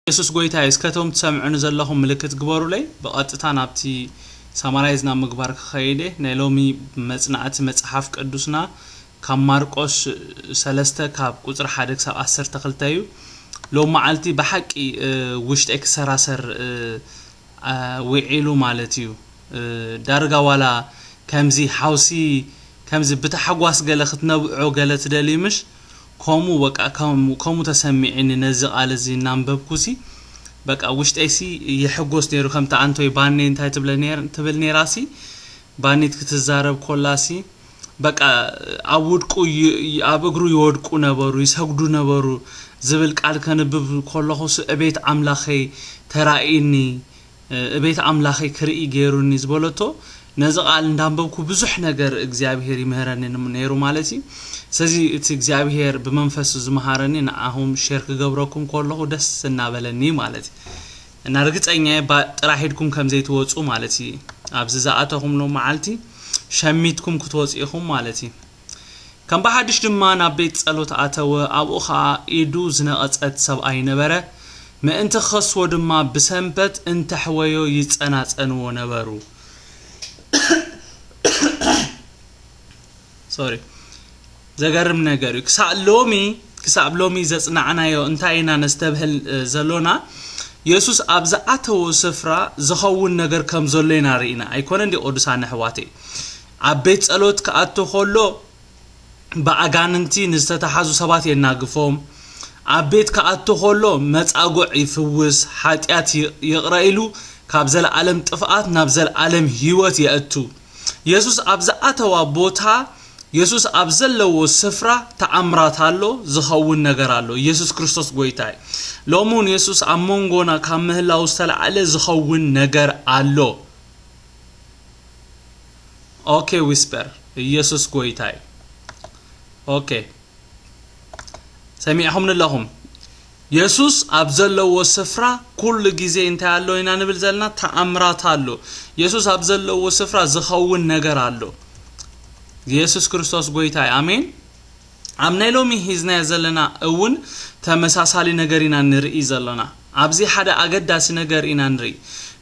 ኢየሱስ ጎይታይ እስከ እቶም ትሰምዑኒ ዘለኹም ምልክት ግበሩለይ ብቐጥታ ናብቲ ሳማራይዝ ናብ ምግባር ክኸይድ እየ ናይ ሎሚ መጽናዕቲ መጽሓፍ ቅዱስና ካብ ማርቆስ ሰለስተ ካብ ቁጽሪ ሓደ ክሳብ ዓሰርተ ክልተ እዩ ሎሚ መዓልቲ ብሓቂ ውሽጠይ ክሰራሰር ዊዒሉ ማለት እዩ ዳርጋ ዋላ ከምዚ ሓውሲ ከምዚ ብታሕጓስ ገለ ክትነብዖ ገለ ትደልዩ ምሽ ከምኡ በቃ ከም ከምኡ ተሰሚዒኒ ነዚ ቃል እዚ እናንበብኩሲ በቃ ውሽጠይሲ ይሕጎስ ነይሩ ከምቲ ኣንቶይ ባኒ እንታይ ትብለ ነይር ትብል ነይራሲ ባኒት ክትዛረብ ኮላሲ በቃ ኣብ ውድቁ ይ- ይ- ኣብ እግሩ ይወድቁ ነበሩ ይሰግዱ ነበሩ ዝብል ቃል ከንብብ ኮለኹሲ እቤት ኣምላኸይ ተራእይኒ እቤት ኣምላኸይ ክርኢ ገይሩኒ ዝበለቶ ነዚ ቃል እንዳንበብኩ ብዙሕ ነገር እግዚኣብሄር ይምህረኒ ነይሩ ማለት እዩ ስለዚ እቲ እግዚኣብሄር ብመንፈሱ ዝመሃረኒ ንዓኹም ሼር ክገብረኩም ከለኹ ደስ እናበለኒ እዩ ማለት እዩ እና ርግፀኛ እየ ባ ጥራሕ ኢድኩም ከም ዘይትወፁ ማለት እዩ ኣብዚ ዝኣተኹምሎ መዓልቲ ሸሚትኩም ክትወፁ ኢኹም ማለት እዩ ከም ብሓድሽ ድማ ናብ ቤት ጸሎት ኣተወ፣ ኣብኡ ኸኣ ኢዱ ዝነቐጸት ሰብኣይ ነበረ፣ ምእንቲ ኪኸስዎ ድማ ብሰንበት እንተሕወዮ ይጸናጸንዎ ነበሩ። ዘገርም ነገር እዩ። ክሳብ ሎሚ ክሳብ ሎሚ ዘጽናዕናዮ እንታይ ኢና ነስተብህል ዘሎና የሱስ ኣብ ዝኣተዎ ስፍራ ዝኸውን ነገር ከም ዘሎ ኢና ርኢና ኣይኮነ እንዲ ቅዱሳን ኣሕዋተይ ኣብ ቤት ጸሎት ክኣቱ ኸሎ ብኣጋንንቲ ንዝተታሓዙ ሰባት የናግፎም፣ ኣብ ቤት ክኣቱ ኸሎ መጻጉዕ ይፍውስ፣ ሓጢኣት ይቕረ ኢሉ ካብ ዘለኣለም ጥፍኣት ናብ ዘለኣለም ህይወት የእቱ። የሱስ ኣብ ዝኣተዋ ቦታ የሱስ ኣብ ዘለዎ ስፍራ ተኣምራት ኣሎ፣ ዝኸውን ነገር ኣሎ። የሱስ ክርስቶስ ጎይታ እዩ። ሎሚ እውን የሱስ ኣብ መንጎና ካብ ምህላው ዝተላዕለ ዝኸውን ነገር ኣሎ። ኦኬ ዊስፐር ኢየሱስ ጎይታ እዩ ኦኬ ሰሚዕኹም ንለኹም የሱስ ኣብ ዘለዎ ስፍራ ኩሉ ግዜ እንታይ ኣሎ ኢና ንብል ዘለና ተኣምራት ኣሎ የሱስ ኣብ ዘለዎ ስፍራ ዝኸውን ነገር ኣሎ የሱስ ክርስቶስ ጎይታ እዩ ኣሜን ኣብ ናይ ሎሚ ሂዝናዮ ዘለና እውን ተመሳሳሊ ነገር ኢና ንርኢ ዘሎና። ኣብዚ ሓደ ኣገዳሲ ነገር ኢና ንርኢ።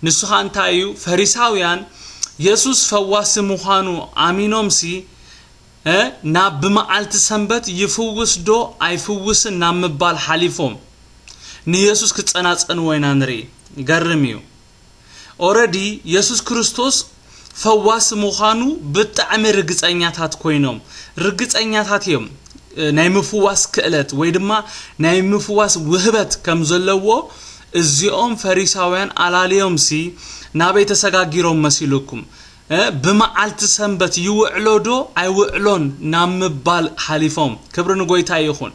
ንሱ ኸኣ እንታይ እዩ? ፈሪሳውያን የሱስ ፈዋሲ ምዃኑ ኣሚኖምሲ እ ናብ ብመዓልቲ ሰንበት ይፍውስዶ ኣይፍውስን ናብ ምባል ሓሊፎም ንየሱስ ክጸናጸንዎ ኢና ንርኢ። ይገርም እዩ። ኦረዲ የሱስ ክርስቶስ ፈዋሲ ምዃኑ ብጣዕሚ ርግጸኛታት ኮይኖም ርግጸኛታት እዮም ናይ ምፍዋስ ክእለት ወይ ድማ ናይ ምፍዋስ ውህበት ከም ዘለዎ እዚኦም ፈሪሳውያን ኣላልዮምሲ ናበይ ተሰጋጊሮም መሲልኩም ብመዓልቲ ሰንበት ይውዕሎዶ ኣይውዕሎን ናብ ምባል ሓሊፎም ክብሪ ንጎይታ ይኹን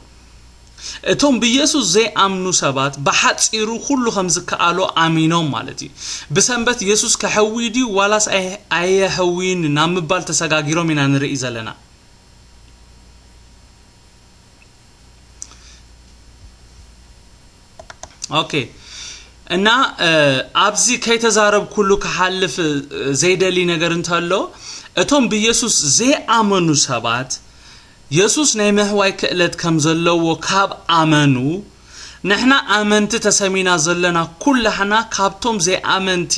እቶም ብየሱስ ዘይኣምኑ ሰባት ብሓጺሩ ኩሉ ከም ዝከኣሎ ኣሚኖም ማለት እዩ። ብሰንበት የሱስ ከሕዊ ድዩ ዋላስ ኣየሕውይን ናብ ምባል ተሰጋጊሮም ኢና ንርኢ ዘለና። ኦኬ እና ኣብዚ ከይተዛረብኩሉ ክሓልፍ ዘይደሊ ነገር እንተሎ እቶም ብየሱስ ዘይኣመኑ ሰባት የሱስ ናይ ምሕዋይ ክእለት ከም ዘለዎ ካብ ኣመኑ፣ ንሕና ኣመንቲ ተሰሚና ዘሎና ኩላህና ካብቶም ዘይኣመንቲ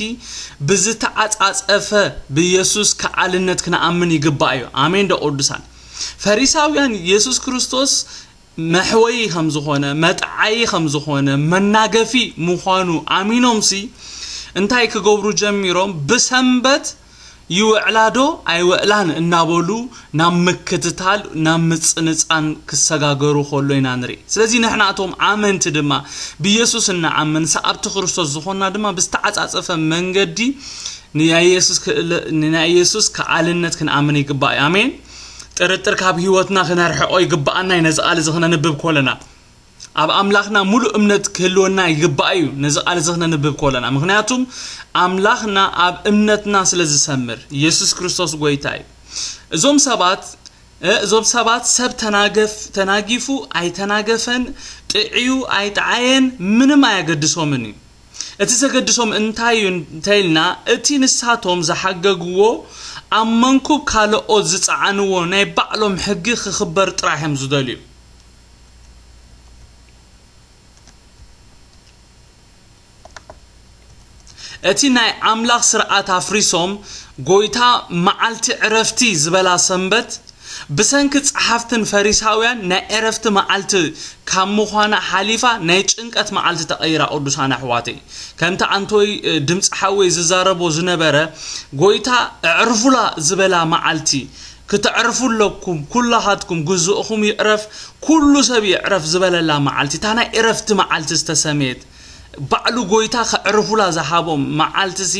ብዝተዓጻጸፈ ብየሱስ ከኣልነት ክንኣምን ይግባእ እዩ። ኣሜን ዶ ቅዱሳን። ፈሪሳውያን የሱስ ክርስቶስ መሕወዪ ከም ዝኾነ፣ መጥዓዪ ከም ዝኾነ፣ መናገፊ ምዃኑ ኣሚኖምሲ እንታይ ክገብሩ ጀሚሮም? ብሰንበት ይውዕላ ዶ ኣይውዕላን እናበሉ ናብ ምክትታል ናብ ምጽንጻን ክሰጋገሩ ከሎ ኢና ንርኢ ስለዚ ንሕና እቶም ኣመንቲ ድማ ብየሱስ እንኣምን ሰዓብቲ ክርስቶስ ዝኾንና ድማ ብዝተዓጻጸፈ መንገዲ ንናይ የሱስ ከኣልነት ክንኣምን ይግባእ ኣሜን ጥርጥር ካብ ህይወትና ክነርሕቆ ይግባኣና እዩ ነዚ ቃል እዚ ክነንብብ ኮለና ኣብ ኣምላኽና ሙሉእ እምነት ክህልወና ይግባእ እዩ ነዚ ቃል እዚ ክነንብብ ከለና ምኽንያቱም ኣምላኽና ኣብ እምነትና ስለ ዝሰምር ኢየሱስ ክርስቶስ ጎይታ እዩ እዞም ሰባት እዞም ሰባት ሰብ ተናገፍ ተናጊፉ ኣይተናገፈን ጥዕዩ ኣይጠዓየን ምንም ኣየገድሶምን እዩ እቲ ዘገድሶም እንታይ እዩ እንተኢልና እቲ ንሳቶም ዝሓገግዎ ኣብ መንኩብ ካለኦት ዝጸዓንዎ ናይ ባዕሎም ሕጊ ክኽበር ጥራሕ እዮም ዝደልዩ እቲ ናይ ኣምላኽ ስርዓት ኣፍሪሶም ጎይታ መዓልቲ ዕረፍቲ ዝበላ ሰንበት ብሰንኪ ጸሓፍትን ፈሪሳውያን ናይ ዕረፍቲ መዓልቲ ካብ ምዃና ሓሊፋ ናይ ጭንቀት መዓልቲ ተቀይራ ቅዱሳን ኣሕዋተይ ከምቲ ኣንቶይ ድምጺ ሓወይ ዝዛረቦ ዝነበረ ጎይታ ኣዕርፉላ ዝበላ መዓልቲ ክተዕርፉ ኣለኩም ኩላኻትኩም ግዝእኹም ይዕረፍ ኩሉ ሰብ ይዕረፍ ዝበለላ መዓልቲ እታ ናይ እረፍቲ መዓልቲ ዝተሰምየት ባዕሉ ጎይታ ከዕርፉላ ዝሃቦም መዓልቲሲ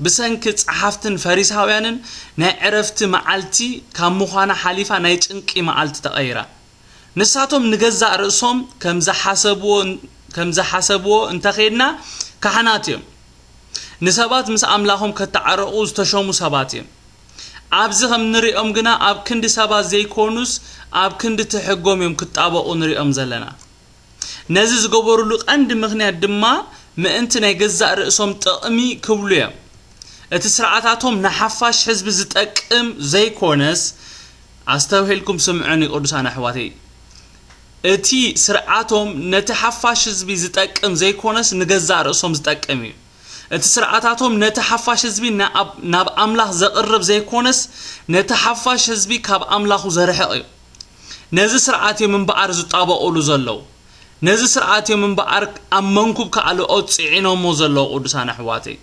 ብሰንኪ ጸሓፍትን ፈሪሳውያንን ናይ ዕረፍቲ መዓልቲ ካብ ምዃና ሓሊፋ ናይ ጭንቂ መዓልቲ ተቐይራ ንሳቶም ንገዛእ ርእሶም ከምዝሓሰብዎ ከምዝሓሰብዎ እንተኼድና ካህናት እዮም ንሰባት ምስ ኣምላኾም ከታዓረቑ ዝተሾሙ ሰባት እዮም ኣብዚ ከም ንሪኦም ግና ኣብ ክንዲ ሰባት ዘይኮኑስ ኣብ ክንዲ ትሕጎም እዮም ክጣበቑ ንሪኦም ዘለና። ነዚ ዝገበሩሉ ቀንዲ ምክንያት ድማ ምእንቲ ናይ ገዛእ ርእሶም ጥቕሚ ክብሉ እዮም። እቲ ስርዓታቶም ንሓፋሽ ህዝቢ ዝጠቅም ዘይኮነስ ኣስተብሂልኩም ስምዑኒ ቅዱሳን ኣሕዋተይ እቲ ስርዓቶም ነቲ ሓፋሽ ህዝቢ ዝጠቅም ዘይኮነስ ንገዛእ ርእሶም ዝጠቅም እዩ። እቲ ስርዓታቶም ነቲ ሓፋሽ ህዝቢ ናብ ኣምላኽ ዘቕርብ ዘይኮነስ ነቲ ሓፋሽ ህዝቢ ካብ ኣምላኹ ዘርሕቕ እዩ። ነዚ ስርዓት እዮም እምበኣር ዝጣበቑሉ ዘለዉ። ነዚ ስርዓት እዮም እምበኣር ኣብ መንኩብ ካልኦት ጽዒኖሞ ዘለዉ ቅዱሳን ኣሕዋተይ።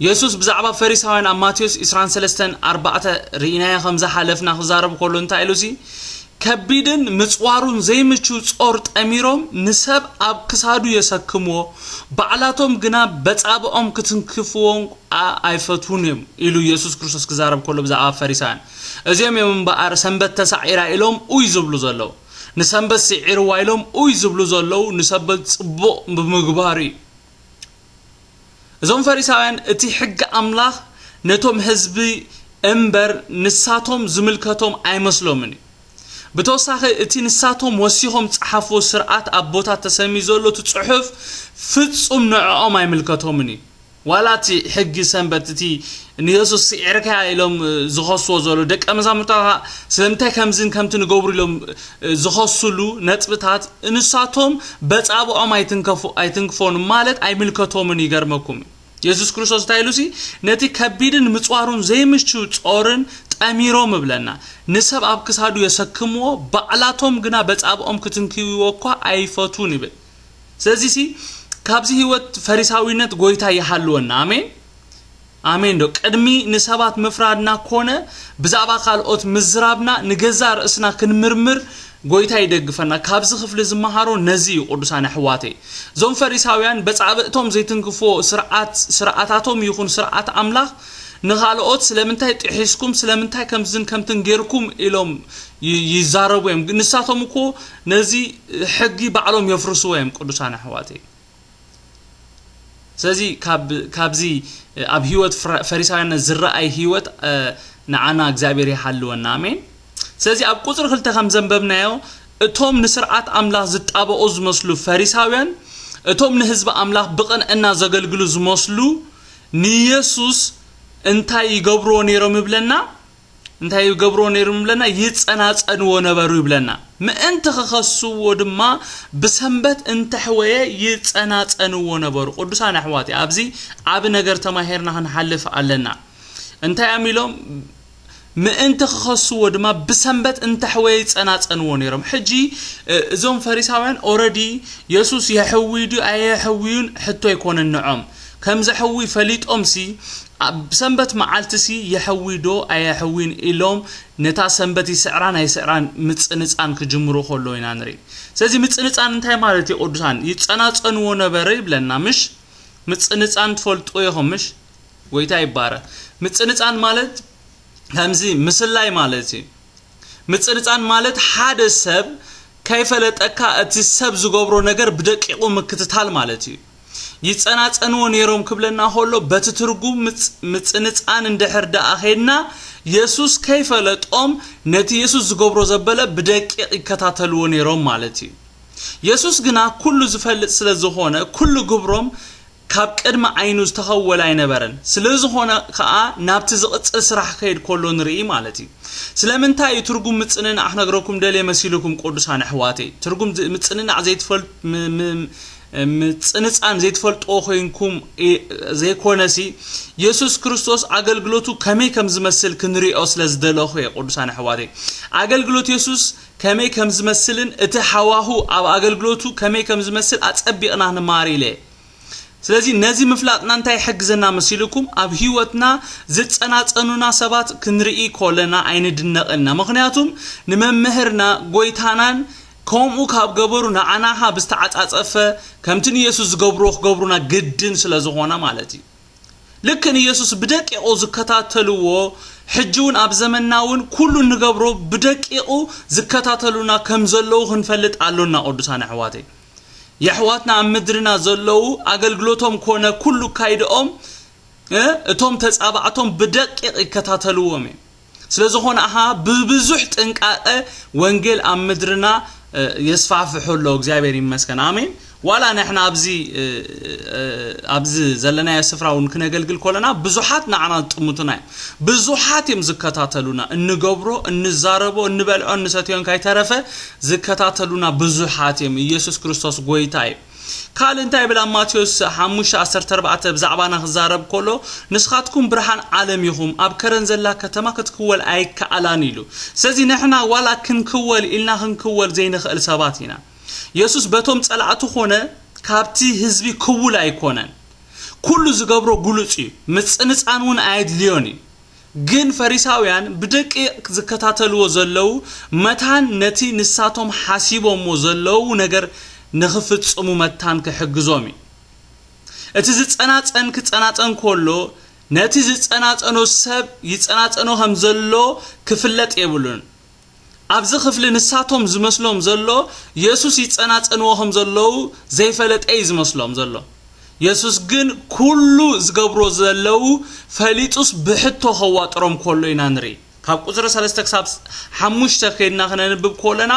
የሱስ ብዛዕባ ፈሪሳውያን ኣብ ማቴዎስ ዕስራን ሰለስተን ኣርባዕተ ርኢናዮ ከም ዝሓለፍና ክዛረብ ከሎ እንታይ ኢሉሲ ከቢድን ምጽዋሩን ዘይምቹ ጾር ጠሚሮም ንሰብ ኣብ ክሳዱ የሰክምዎ፣ ባዕላቶም ግና በጻብኦም ክትንክፍዎ'ኳ ኣይፈትዉን እዮም ኢሉ የሱስ ክርስቶስ ክዛረብ ከሎ ብዛዕባ ፈሪሳውያን እዚኦም እዮም እምበኣር ሰንበት ተሳዒራ ኢሎም ኡይ ዝብሉ ዘለዉ ንሰንበት ስዒርዋ ኢሎም ኡይ ዝብሉ ዘለዉ ንሰበት ጽቡቕ ብምግባር እዩ እዞም ፈሪሳውያን እቲ ሕጊ ኣምላኽ ነቶም ህዝቢ እምበር ንሳቶም ዝምልከቶም ኣይመስሎምን እዩ። ብተወሳኺ እቲ ንሳቶም ወሲኾም ዝጸሓፍዎ ስርዓት ኣቦታት ተሰምዩ ዘሎ እቲ ጽሑፍ ፍጹም ንዕኦም ኣይምልከቶምን እዩ። ዋላ እቲ ሕጊ ሰንበት እቲ ንየሱስ ስዒርካያ ኢሎም ዝኸስዎ ዘለዉ ደቀ መዛሙርታ ከኣ ስለምንታይ ከምዝን ከምትን ይገብሩ ኢሎም ዝኸስሉ ነጥብታት ንሳቶም በጻብኦም ኣይትንከፉ ኣይትንክፎን ማለት ኣይምልከቶምን ይገርመኩም እዩ የሱስ ክርስቶስ እንታይ ኢሉሲ ነቲ ከቢድን ምጽዋሩን ዘይምችው ጾርን ጠሚሮም እብለና ንሰብ ኣብ ክሳዱ የሰክምዎ ባዕላቶም ግና በጻብኦም ክትንክይዎ እኳ ኣይፈቱን ይብል ስለዚሲ ካብዚ ህይወት ፈሪሳዊነት ጎይታ ይሃልወና ኣሜን ኣሜን ዶ ቅድሚ ንሰባት ምፍራድና ኮነ ብዛዕባ ካልኦት ምዝራብና ንገዛ ርእስና ክንምርምር ጎይታ ይደግፈና ካብዚ ክፍሊ ዝመሃሮ ነዚ እዩ ቅዱሳን ኣሕዋተይ እዞም ፈሪሳውያን በጻብእቶም ዘይትንክፍዎ ስርዓት ስርዓታቶም ይኹን ስርዓት ኣምላኽ ንኻልኦት ስለምንታይ ጥሒስኩም ስለምንታይ ከምዝን ከምትን ጌርኩም ኢሎም ይዛረቡ እዮም ንሳቶም እኮ ነዚ ሕጊ ባዕሎም የፍርስዎ እዮም ቅዱሳን ኣሕዋተይ ስለዚ ካብዚ ኣብ ህይወት ፈሪሳውያን ዝረኣይ ህይወት ንዓና እግዚኣብሔር ይሓልወና ኣሜን ስለዚ ኣብ ቁፅሪ ክልተ ከም ዘንበብናዮ እቶም ንስርዓት ኣምላኽ ዝጣበቑ ዝመስሉ ፈሪሳውያን እቶም ንህዝቢ ኣምላኽ ብቕንዕና ዘገልግሉ ዝመስሉ ንየሱስ እንታይ ይገብርዎ ነይሮም ይብለና እንታይ ይገብርዎ ነይሮም ይብለና ይጸናጸንዎ ነበሩ ይብለና ምእንቲ ክኸስዎ ድማ ብሰንበት እንተሕወየ ይጸናጸንዎ ነበሩ ቅዱሳን ኣሕዋት ኣብዚ ዓቢ ነገር ተማሂርና ክንሓልፍ ኣለና እንታይ እዮም ኢሎም ምእንቲ ክኸስዎ ድማ ብሰንበት እንተሕወየ ይጸናጸንዎ ነይሮም ሕጂ እዞም ፈሪሳውያን ኦረዲ የሱስ የሕውይ ድዩ ኣየሕውዩን ሕቶ ኣይኮነን ንዖም ከም ዘሕዊ ፈሊጦምሲ፣ ኣብ ሰንበት መዓልቲሲ የሕዊዶ ኣየሕዊን ኢሎም ነታ ሰንበት ይስዕራን ኣይስዕራን ምጽንጻን ክጅምሩ ከለዉ ኢና ንርኢ። ስለዚ ምጽንጻን እንታይ ማለት እዩ ቅዱሳን? ይጸናጸንዎ ነበረ ይብለና ምሽ? ምጽንጻን ትፈልጥዎ ኢኹም ምሽ? ጎይታ ይባረኽ። ምጽንጻን ማለት ከምዚ ምስላይ ማለት እዩ። ምጽንጻን ማለት ሓደ ሰብ ከይፈለጠካ እቲ ሰብ ዝገብሮ ነገር ብደቂቑ ምክትታል ማለት እዩ። ይጸናጸንዎ ነይሮም ክብለና ከሎ በቲ ትርጉም ምጽንጻን እንድሕር ደኣ ኼድና የሱስ ከይፈለጦም ነቲ የሱስ ዝገብሮ ዘበለ ብደቂቕ ይከታተልዎ ነይሮም ማለት እዩ የሱስ ግና ኩሉ ዝፈልጥ ስለ ዝኾነ ኩሉ ግብሮም ካብ ቅድሚ ዓይኑ ዝተኸወለ ኣይነበረን ስለ ዝኾነ ከኣ ናብቲ ዝቕጽል ስራሕ ክኸይድ ከሎ ንርኢ ማለት እዩ ስለምንታይ እዩ ትርጉም ምጽንናዕ ክነግረኩም ደልየ መሲልኩም ቅዱሳን ኣሕዋተይ ትርጉም ምጽንናዕ ዘይትፈልጡ ምጽንጻን ዘይትፈልጥዎ ኮይንኩም ዘይኮነሲ የሱስ ክርስቶስ ኣገልግሎቱ ከመይ ከም ዝመስል ክንሪኦ ስለ ዝደለኹ እየ ቅዱሳን ኣሕዋተይ ኣገልግሎት የሱስ ከመይ ከም ዝመስልን እቲ ሃዋሁ ኣብ ኣገልግሎቱ ከመይ ከም ዝመስል ኣጸቢቕና ንማር ኢለ ስለዚ ነዚ ምፍላጥና እንታይ ይሕግዘና መሲልኩም ኣብ ህይወትና ዝጸናጸኑና ሰባት ክንርኢ ኮለና ኣይንድነቕ ኢና ምክንያቱም ንመምህርና ጎይታናን ከምኡ ካብ ገበሩ ንዓና ከኣ ብዝተዓጻጸፈ ከምቲ ንየሱስ ዝገብርዎ ክገብሩና ግድን ስለ ዝኾነ ማለት እዩ። ልክዕ ንየሱስ ብደቂቑ ዝከታተልዎ ሕጂ ውን ኣብ ዘመንና ውን ኩሉ እንገብሮ ብደቂቑ ዝከታተሉና ከም ዘለዉ ክንፈልጥ ኣሎና ቅዱሳን ኣሕዋተይ። የሕዋትና ኣብ ምድርና ዘለዉ ኣገልግሎቶም ኮነ ኩሉ ኣካይድኦም እቶም ተጻባእቶም ብደቂቕ ይከታተልዎም እዮም። ስለዝኾነ ኣኻ ብብዙሕ ጥንቃቐ ወንጌል ኣብ ምድርና የስፋፍሑ ኣሎ እግዚኣብሔር ይመስገን ኣሜን ዋላ ንሕና ኣብዚ ኣብዚ ዘለናዮ ስፍራ እውን ክነገልግል ኮለና ብዙሓት ንዓና ዝጥምቱና እዮም ብዙሓት እዮም ዝከታተሉና እንገብሮ እንዛረቦ እንበልዖ እንሰትዮን ካይተረፈ ዝከታተሉና ብዙሓት እዮም ኢየሱስ ክርስቶስ ጎይታ እዩ ካልእ እንታይ ይብል ኣብ ማቴዎስ ሓሙሽተ ዓሰርተ ኣርባዕተ ብዛዕባና ክዛረብ ከሎ ንስኻትኩም ብርሃን ዓለም ኢኹም ኣብ ከረን ዘላ ከተማ ክትክወል ኣይከኣላን ኢሉ ስለዚ ንሕና ዋላ ክንክወል ኢልና ክንክወል ዘይንኽእል ሰባት ኢና የሱስ በቶም ጸላእቱ ኮነ ካብቲ ህዝቢ ክውል ኣይኮነን ኩሉ ዝገብሮ ግሉጽ እዩ ምጽንጻን እውን ኣየድልዮን እዩ ግን ፈሪሳውያን ብደቂቕ ዝከታተልዎ ዘለዉ መታን ነቲ ንሳቶም ሓሲቦምዎ ዘለዉ ነገር ንኽፍጽሙ መታን ክሕግዞም እዩ። እቲ ዝጸናጸን ክጸናጸን ከሎ ነቲ ዝጸናጸኖ ሰብ ይጸናጸኖ ከም ዘሎ ክፍለጥ የብሉን። ኣብዚ ክፍሊ ንሳቶም ዝመስሎም ዘሎ የሱስ ይጸናጸንዎ ከም ዘለዉ ዘይፈለጠ እዩ ዝመስሎም ዘሎ። የሱስ ግን ኩሉ ዝገብሮ ዘለዉ ፈሊጡስ ብሕቶ ከዋጥሮም ኮሎ ኢና ንርኢ። ካብ ቁጽሪ ሰለስተ ክሳብ ሓሙሽተ ከድና ክነንብብ ኮለና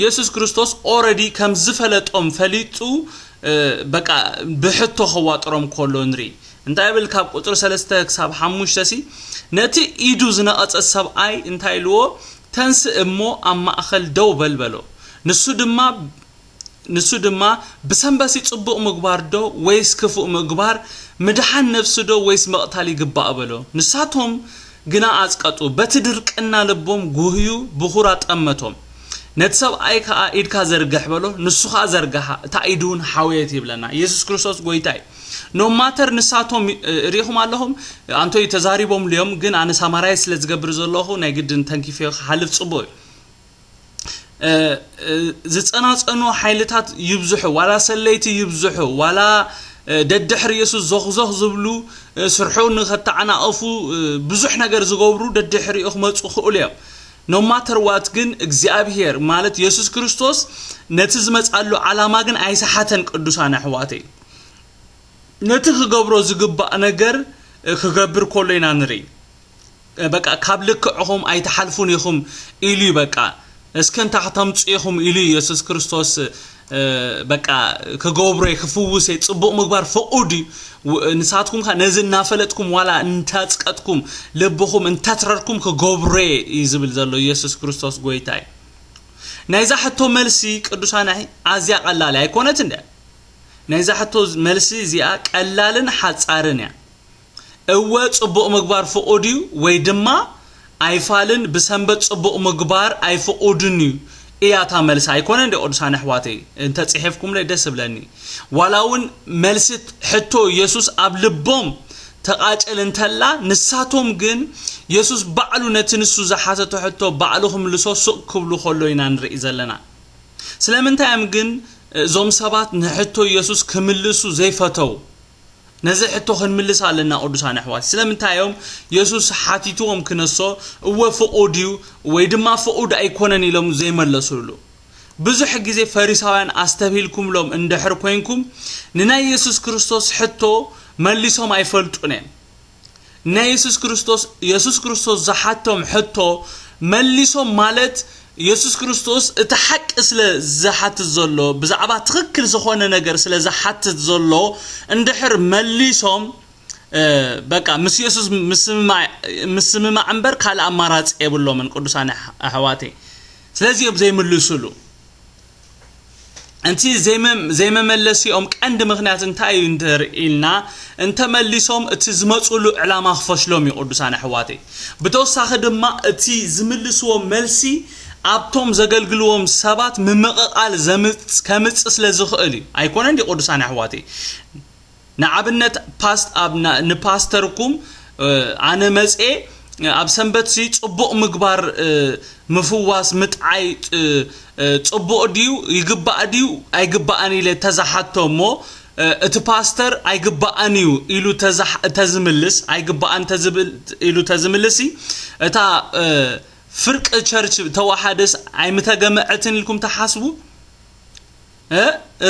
የሱስ ክርስቶስ ኦረዲ ከም ዝፈለጦም ፈሊጡ በቃ ብሕቶ ከዋጥሮም ኮሎ ንርኢ። እንታይ ይብል ካብ ቁጽሪ ሰለስተ ክሳብ ሓሙሽተ ሲ ነቲ ኢዱ ዝነቐጸ ሰብኣይ እንታይ ኢልዎ ተንስእ እሞ ኣብ ማእከል ደው በል በሎ ንሱ ድማ ንሱ ድማ ብሰንበሲ ጽቡቕ ምግባር ዶ ወይስ ክፉእ ምግባር ምድሓን ነፍሲ ዶ ወይስ ምቕታል ይግባእ በሎ ንሳቶም ግና ኣጽቀጡ በቲ ድርቅና ልቦም ጉህዩ ብኹራ ጠመቶም ነቲ ሰብኣይ ከኣ ኢድካ ዘርግሕ በሎ ንሱ ከኣ ዘርግሓ እታ ኢዱውን ሓወየት ይብለና ኢየሱስ ክርስቶስ ጎይታ እዩ ኖ ማተር ንሳቶም ሪኢኹም ኣለኹም ኣንቶይ ተዛሪቦምሉ እዮም ግን ኣነ ሳማራይ ስለ ዝገብር ዘለኹ ናይ ግድን ተንኪፈዮ ክሓልፍ ጽቡቕ እዩ ዝጸናጸኑ ሓይልታት ይብዝሑ ዋላ ሰለይቲ ይብዝሑ ዋላ ደድሕሪ የሱስ ዞኽዞኽ ዝብሉ ስርሑ ንኸተዓናቐፉ ብዙሕ ነገር ዝገብሩ ደድሕሪኡ ክመፁ ክእሉ እዮም ኖማተርዋት ግን እግዚኣብሄር ማለት የሱስ ክርስቶስ ነቲ ዝመፃሉ ዓላማ ግን ኣይሰሓተን ቅዱሳን ኣሕዋተይ ነቲ ክገብሮ ዝግባእ ነገር ክገብር ኮሎ ኢና ንርኢ በቃ ካብ ልክዕኹም ኣይትሓልፉን ኢኹም ኢሉ እዩ በቃ እስኪ እንታይ ክተምፁ ኢኹም ኢሉ ኢየሱስ ክርስቶስ በቃ ክገብሮ እየ ክፍውስ እየ ፅቡቕ ምግባር ፍቑድ እዩ ንሳትኩም ከ ነዚ እናፈለጥኩም ዋላ እንታፅቀጥኩም ልብኹም እንተትረርኩም ክገብሮ እየ እዩ ዝብል ዘሎ ኢየሱስ ክርስቶስ ጎይታ እዩ ናይዛ ሕቶ መልሲ ቅዱሳን ኣዝያ ቀላል ኣይኮነት እንደ ናይዛ ሕቶ መልሲ እዚኣ ቀላልን ሓጻርን እያ። እወ ጽቡቕ ምግባር ፍቑድ እዩ ወይ ድማ ኣይፋልን ብሰንበት ጽቡቕ ምግባር ኣይፍቑድን እዩ እያ እታ መልሲ ኣይኮነን ዶ ቅዱሳን ኣሕዋተይ እንተ ጽሒፍኩምለይ ደስ እብለኒ ዋላ እውን መልሲ ሕቶ የሱስ ኣብ ልቦም ተቓጭል እንተላ ንሳቶም ግን የሱስ ባዕሉ ነቲ ንሱ ዝሓተቶ ሕቶ ባዕሉ ክምልሶ ሱቕ ክብሉ ከሎ ኢና ንርኢ ዘለና ስለምንታይ እዮም ግን እዞም ሰባት ንሕቶ ኢየሱስ ክምልሱ ዘይፈተው? ነዚ ሕቶ ክንምልስ ኣለና ቅዱሳን ኣሕዋት። ስለምንታይ እዮም ኢየሱስ ሓቲትዎም ክነሶ እወ ፍቑድ እዩ ወይ ድማ ፍቑድ ኣይኮነን ኢሎም ዘይመለሱሉ? ብዙሕ ግዜ ፈሪሳውያን ኣስተብሂልኩምሎም እንድሕር ኮይንኩም ንናይ ኢየሱስ ክርስቶስ ሕቶ መሊሶም ኣይፈልጡን እዮም። ናይ የሱስ ክርስቶስ የሱስ ክርስቶስ ዝሓቶም ሕቶ መሊሶም ማለት የሱስ ክርስቶስ እቲ ሓቂ ስለ ዝሓትት ዘሎ ብዛዕባ ትኽክል ዝኾነ ነገር ስለ ዝሓትት ዘሎ እንድሕር መሊሶም በቃ ምስ የሱስ ምስምማዕ እምበር ካልእ ኣማራፂ የብሎምን ቅዱሳን ኣሕዋተይ ስለዚ እዮም ዘይምልሱሉ እቲ ዘይመመለሲኦም ቀንዲ ምኽንያት እንታይ እዩ እንተርኢልና እንተመሊሶም እቲ ዝመፅሉ ዕላማ ክፈሽሎም እዩ ቅዱሳን ኣሕዋተይ ብተወሳኺ ድማ እቲ ዝምልስዎ መልሲ ኣብቶም ዘገልግልዎም ሰባት ምምቕቓል ከምፅ ስለ ዝኽእል እዩ ኣይኮነን ቅዱሳን ኣሕዋተይ ንኣብነት ፓስት ኣብ ንፓስተርኩም ኣነ መጽኤ ኣብ ሰንበትሲ ጽቡቕ ምግባር ምፍዋስ ምጥዓይ ጽቡቕ ድዩ ይግባእ ድዩ ኣይግባእን ኢለ ተዝሓቶ እሞ እቲ ፓስተር ኣይግባእን እዩ ኢሉ ተዝምልስ ኣይግባእን ኢሉ ተዝምልሲ እታ ፍርቂ ቸርች ተዋሓደስ ኣይምተገመዐትን ኢልኩም ትሓስቡ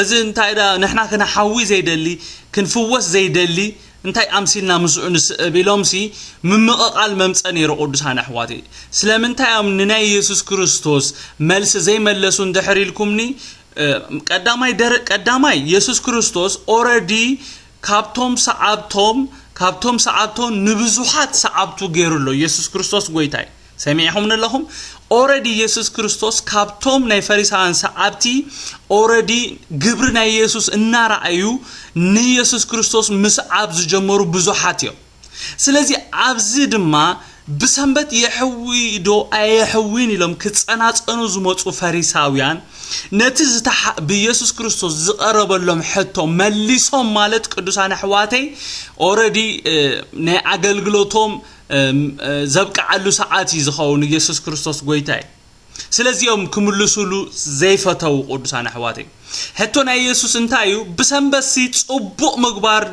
እዚ እንታይ ድኣ ንሕና ክንሓዊ ዘይደሊ ክንፍወስ ዘይደሊ እንታይ ኣምሲልና ምስኡ ንስእብ ኢሎምሲ ምምቕቓል መምጸ ነይሩ ቅዱሳን ኣሕዋተይ ስለምንታይ እዮም ንናይ ኢየሱስ ክርስቶስ መልሲ ዘይመለሱ እንድሕር ኢልኩምኒ ቀዳማይ ደረ ቀዳማይ ኢየሱስ ክርስቶስ ኦረዲ ካብቶም ሰዓብቶም ካብቶም ሰዓብቶም ንብዙሓት ሰዓብቱ ገይሩ ኣሎ ኢየሱስ ክርስቶስ ጎይታይ ሰሚዕኹምኒ ኣለኹም ኦረዲ ኢየሱስ ክርስቶስ ካብቶም ናይ ፈሪሳውያን ሰዓብቲ ኦረዲ ግብሪ ናይ ኢየሱስ እናረኣዩ ንኢየሱስ ክርስቶስ ምስዓብ ዝጀመሩ ብዙሓት እዮም ስለዚ ኣብዚ ድማ ብሰንበት የሕዊ ዶ ኣየሕዊን ኢሎም ክጸናጸኑ ዝመጹ ፈሪሳውያን ነቲ ብኢየሱስ ክርስቶስ ዝቐረበሎም ሕቶ መሊሶም ማለት ቅዱሳን ኣሕዋተይ ኦረዲ ናይ ኣገልግሎቶም ዘብቅዓሉ ሰዓት እዩ ዝኸውን ኢየሱስ ክርስቶስ ጎይታ እዩ ስለዚ እዮም ክምልሱሉ ዘይፈተው ቅዱሳን ኣሕዋተይ ሕቶ ናይ ኢየሱስ እንታይ እዩ ብሰንበትሲ ጽቡቕ ምግባር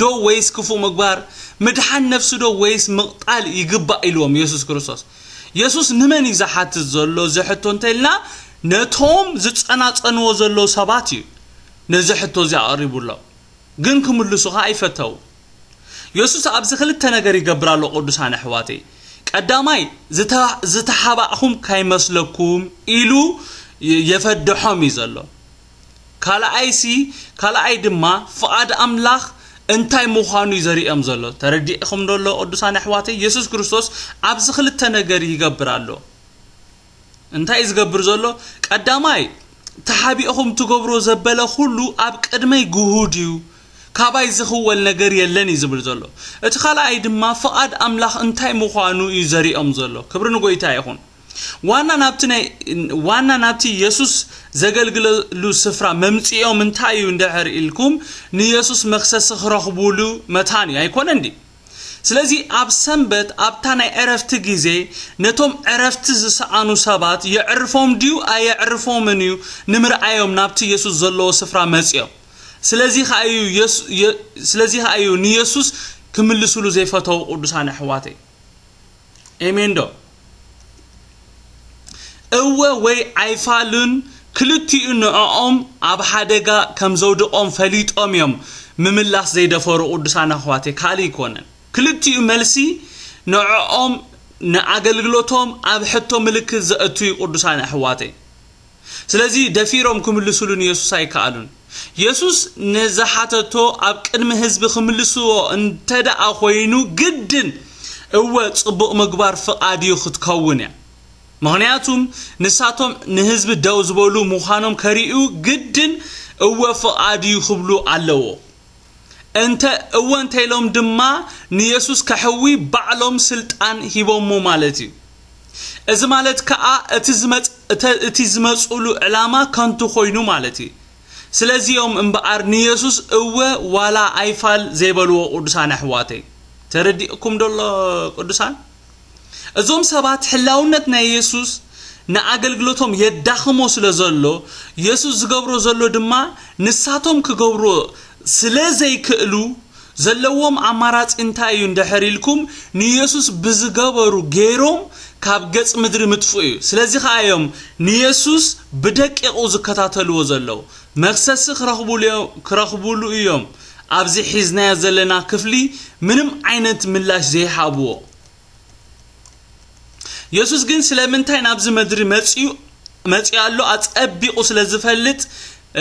ዶ ወይስ ክፉእ ምግባር ምድሓን ነፍሲ ዶ ወይስ ምቕጣል ይግባእ ኢልዎም ኢየሱስ ክርስቶስ ኢየሱስ ንመን እዩ ዝሓትት ዘሎ እዚ ሕቶ እንተልና ነቶም ዝጸናጸንዎ ዘለዉ ሰባት እዩ ነዚ ሕቶ እዚ ኣቕሪቡሎም ግን ክምልሱኻ ኣይፈተው የሱስ ኣብዚ ክልተ ነገር ይገብር ኣሎ ቅዱሳን ኣሕዋተይ ቀዳማይ ዝተሓባእኹም ካይመስለኩም ኢሉ የፈደሖም እዩ ዘሎ ካልኣይሲ ካልኣይ ድማ ፍቓድ ኣምላኽ እንታይ ምዃኑ እዩ ዘርእዮም ዘሎ ተረዲእኹም ዶ ኣሎ ቅዱሳን ኣሕዋተይ የሱስ ክርስቶስ ኣብዚ ክልተ ነገር ይገብር ኣሎ እንታይ እዩ ዝገብር ዘሎ ቀዳማይ ተሓቢእኹም ትገብሮ ዘበለ ኩሉ ኣብ ቅድመይ ግሁድ እዩ ካባይ ዝኽወል ነገር የለን እዩ ዝብል ዘሎ እቲ ካልኣይ ድማ ፍቓድ ኣምላኽ እንታይ ምዃኑ እዩ ዘሪኦም ዘሎ ክብሪ ንጎይታ ይኹን ዋና ናብቲ ናይ ዋና ናብቲ የሱስ ዘገልግለሉ ስፍራ መምጽኦም እንታይ እዩ እንድሕር ኢልኩም ንየሱስ መክሰሲ ክረኽቡሉ መታን እዩ ኣይኮነን ድዩ ስለዚ ኣብ ሰንበት ኣብታ ናይ ዕረፍቲ ግዜ ነቶም ዕረፍቲ ዝሰኣኑ ሰባት የዕርፎም ድዩ ኣየዕርፎምን እዩ ንምርኣዮም ናብቲ የሱስ ዘለዎ ስፍራ መጽዮም ስለዚ ከኣ እዩ ስለዚ ከኣ እዩ ንየሱስ ክምልስሉ ዘይፈተዉ ቅዱሳን ኣሕዋተይ ኤሜንዶ እወ ወይ ኣይፋሉን ክልቲኡ ንዕኦም ኣብ ሓደጋ ከም ዘውድቆም ፈሊጦም እዮም ምምላስ ዘይደፈሩ ቅዱሳን ኣሕዋተይ ካልእ ኣይኮነን ክልቲኡ መልሲ ንዕኦም ንኣገልግሎቶም ኣብ ሕቶ ምልክት ዘእቱ እዩ ቅዱሳን ኣሕዋተይ ስለዚ ደፊሮም ክምልሱሉ ንየሱስ ኣይከኣሉን። የሱስ ንዝሓተቶ ኣብ ቅድሚ ህዝቢ ክምልስዎ እንተደኣ ኮይኑ ግድን እወ ጽቡቕ ምግባር ፍቓድ እዩ ክትከውን እያ። ምኽንያቱም ንሳቶም ንህዝቢ ደው ዝበሉ ምዃኖም ከርእዩ ግድን እወ ፍቓድ እዩ ክብሉ ኣለዎ። እንተ እወ እንተኢሎም ድማ ንየሱስ ከሕዊ ባዕሎም ስልጣን ሂቦሞ ማለት እዩ። እዚ ማለት ክኣ እቲ ዝመጽ እተ እቲ ዝመጽእሉ ዕላማ ከንቱ ኮይኑ ማለት እዩ ስለዚ እዮም እምብኣር ንየሱስ እወ ዋላ ኣይፋል ዘይበልዎ ቅዱሳን ኣሕዋተይ ተረዲእኩም ዶ ኣሎ ቅዱሳን እዞም ሰባት ሕላውነት ናይ የሱስ ንኣገልግሎቶም የዳኽሞ ስለ ዘሎ የሱስ ዝገብሮ ዘሎ ድማ ንሳቶም ክገብርዎ ስለ ዘይክእሉ ዘለዎም ኣማራጺ እንታይ እዩ እንድሕር ኢልኩም ንየሱስ ብዝገበሩ ገይሮም ካብ ገጽ ምድሪ ምጥፍኡ እዩ። ስለዚ ከኣ እዮም ንየሱስ ብደቂቑ ዝከታተልዎ ዘለዉ። መኽሰሲ ክረኽቡሉ እዮም ኣብዚ ሒዝናዮ ዘለና ክፍሊ ምንም ዓይነት ምላሽ ዘይሃብዎ። የሱስ ግን ስለምንታይ ናብዚ ምድሪ መጺኡ መጺኡ ኣሎ ኣጸቢቑ ስለ ዝፈልጥ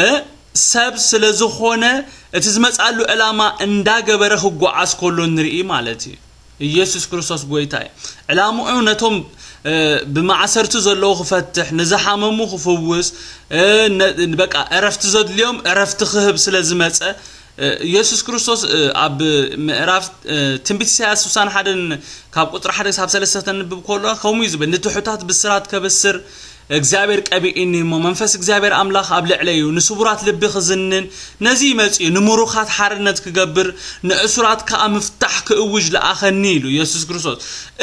እ፣ ሰብ ስለ ዝኾነ እቲ ዝመጽኣሉ ዕላማ እንዳገበረ ክጓዓዝ ከሎ ንርኢ ማለት እዩ ኢየሱስ ክርስቶስ ጎይታ እዩ ዕላምኡ ነቶም እ፣ ብማእሰርቲ ዘለዉ ክፈትሕ ንዝሓመሙ ክፍውስ እ፣ ነ- በቃ ዕረፍቲ ዘድልዮም ዕረፍቲ ክህብ ስለ ዝመጸ ኢየሱስ ክርስቶስ ኣብ ምዕራፍ ትንቢት ኢሳያስ ስሳን ሓደን ካብ ቁፅሪ ሓደ ክሳብ ሰለስተ ክተንብብ ከሎ ከምኡ እዩ ዝብል ንትሑታት ብስራት ከብስር እግዚኣብሔር ቀቢእኒ እሞ መንፈስ እግዚኣብሔር ኣምላኽ ኣብ ልዕለ እዩ ንስቡራት ልቢ ክዝንን ነዚ ይመፅኡ ንምሩኻት ሓርነት ክገብር ንእሱራት ከዓ ምፍታሕ ክእውጅ ለኣኸኒ ኢሉ ኢየሱስ ክርስቶስ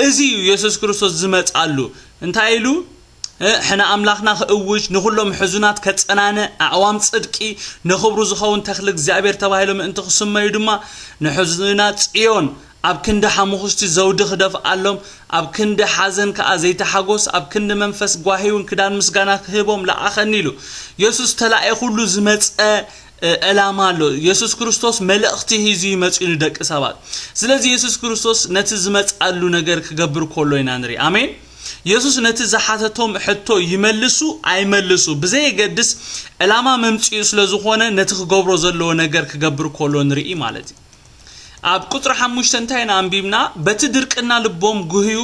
እዚ እዩ ኢየሱስ ክርስቶስ ዝመፅኣሉ እንታይ ኢሉ ሕነ ኣምላኽና ክእውጅ፣ ንዅሎም ሕዙናት ከጸናንዕ፣ ኣዕዋም ጽድቂ፣ ንኽብሩ ዝኸውን ተኽሊ እግዚኣብሄር ተባሂሎም ምእንቲ ክስመዩ ድማ፣ ንሕዙናት ጽዮን ኣብ ክንዲ ሓሙዅሽቲ ዘውዲ ክደፍኣሎም፣ ኣብ ክንዲ ሓዘን ከኣ ዘይቲ ሓጐስ፣ ኣብ ክንዲ መንፈስ ጓሂውን ክዳን ምስጋና ክህቦም ለኣኸኒ ኢሉ። የሱስ ተላኢኹሉ ዝመጸ ዕላማ ኣሎ። የሱስ ክርስቶስ መልእኽቲ ሒዙ እዩ መጺኡ ንደቂ ሰባት። ስለዚ የሱስ ክርስቶስ ነቲ ዝመጽኣሉ ነገር ክገብር ከሎ ኢና ንርኢ። ኣሜን! የሱስ ነቲ ዝሓተቶም ሕቶ ይመልሱ ኣይመልሱ ብዘየገድስ ዕላማ መምጽኡ ስለ ዝኾነ ነቲ ክገብሮ ዘለዎ ነገር ክገብር ከሎ ንርኢ ማለት እዩ። ኣብ ቁጽሪ ሓሙሽተ እንታይ ኢና ኣንቢብና? በቲ ድርቅና ልቦም ጉህዩ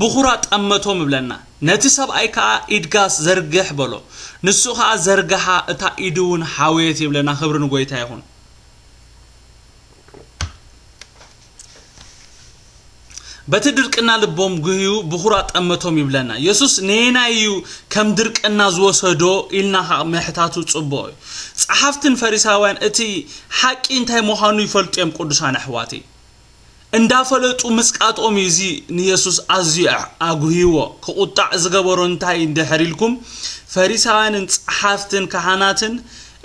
ብኹራ ጠመቶም እብለና። ነቲ ሰብኣይ ከኣ ኢድጋስ ዘርግሕ በሎ። ንሱ ከኣ ዘርግሓ እታ ኢዱ እውን ሓወየት ይብለና ክብሪ ንጎይታ ይኹን። በቲ ድርቅና ልቦም ጉህዩ ብኹራ ጠመቶም ይብለና የሱስ ነየናይ እዩ ከም ድርቅና ዝወሰዶ ኢልና ከ ምሕታቱ ጽቡቕ እዩ ጸሓፍትን ፈሪሳውያን እቲ ሓቂ እንታይ ምዃኑ ይፈልጡ እዮም ቅዱሳን ኣሕዋተይ እንዳፈለጡ ምጽቃጦም እዩ እዚ ንየሱስ ኣዝዩ ኣጉህይዎ ክቑጣዕ ዝገበሮ እንታይ እንድሕር ኢልኩም ፈሪሳውያንን ጸሓፍትን ካህናትን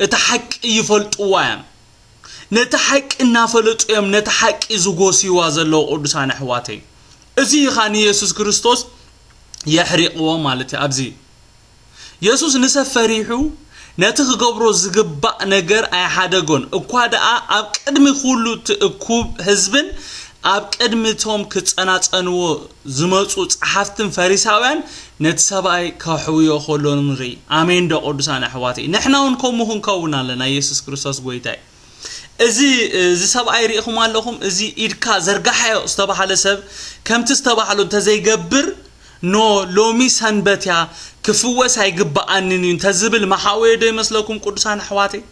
እቲ ሓቂ ይፈልጥዋ እዮም ነታ ሓቂ እናፈለጡ እዮም ነታ ሓቂ ዝጎስይዋ ዘለዉ ቅዱሳን ኣሕዋተይ እዚ እዩ ኸኣ ንየሱስ ክርስቶስ የሕሪቕዎ ማለት እዩ ኣብዚ የሱስ ንሰብ ፈሪሑ ነቲ ክገብሮ ዝግባእ ነገር ኣይሓደጎን እኳ ደኣ ኣብ ቅድሚ ኩሉ እቲ እኩብ ህዝብን ኣብ ቅድሚ እቶም ክጸናጸንዎ ዝመጹ ጸሓፍትን ፈሪሳውያን ነቲ ሰብኣይ ከሕውዮ ከሎ ንርኢ ኣሜን ዶ ቅዱሳን ኣሕዋተይ ንሕና ውን ከምኡ ክንከውን ኣለና ኢየሱስ ክርስቶስ ጎይታይ እዚ እዚ ሰብኣይ ርኢኹም ኣለኹም እዚ ኢድካ ዘርጋሓዮ ዝተባህለ ሰብ ከምቲ ዝተባህሎ እንተዘይገብር ኖ ሎሚ ሰንበት እያ ክፍወስ ኣይግባኣንን እዩ እንተዝብል መሓወየ ዶ ይመስለኩም ቅዱሳን ኣሕዋተይ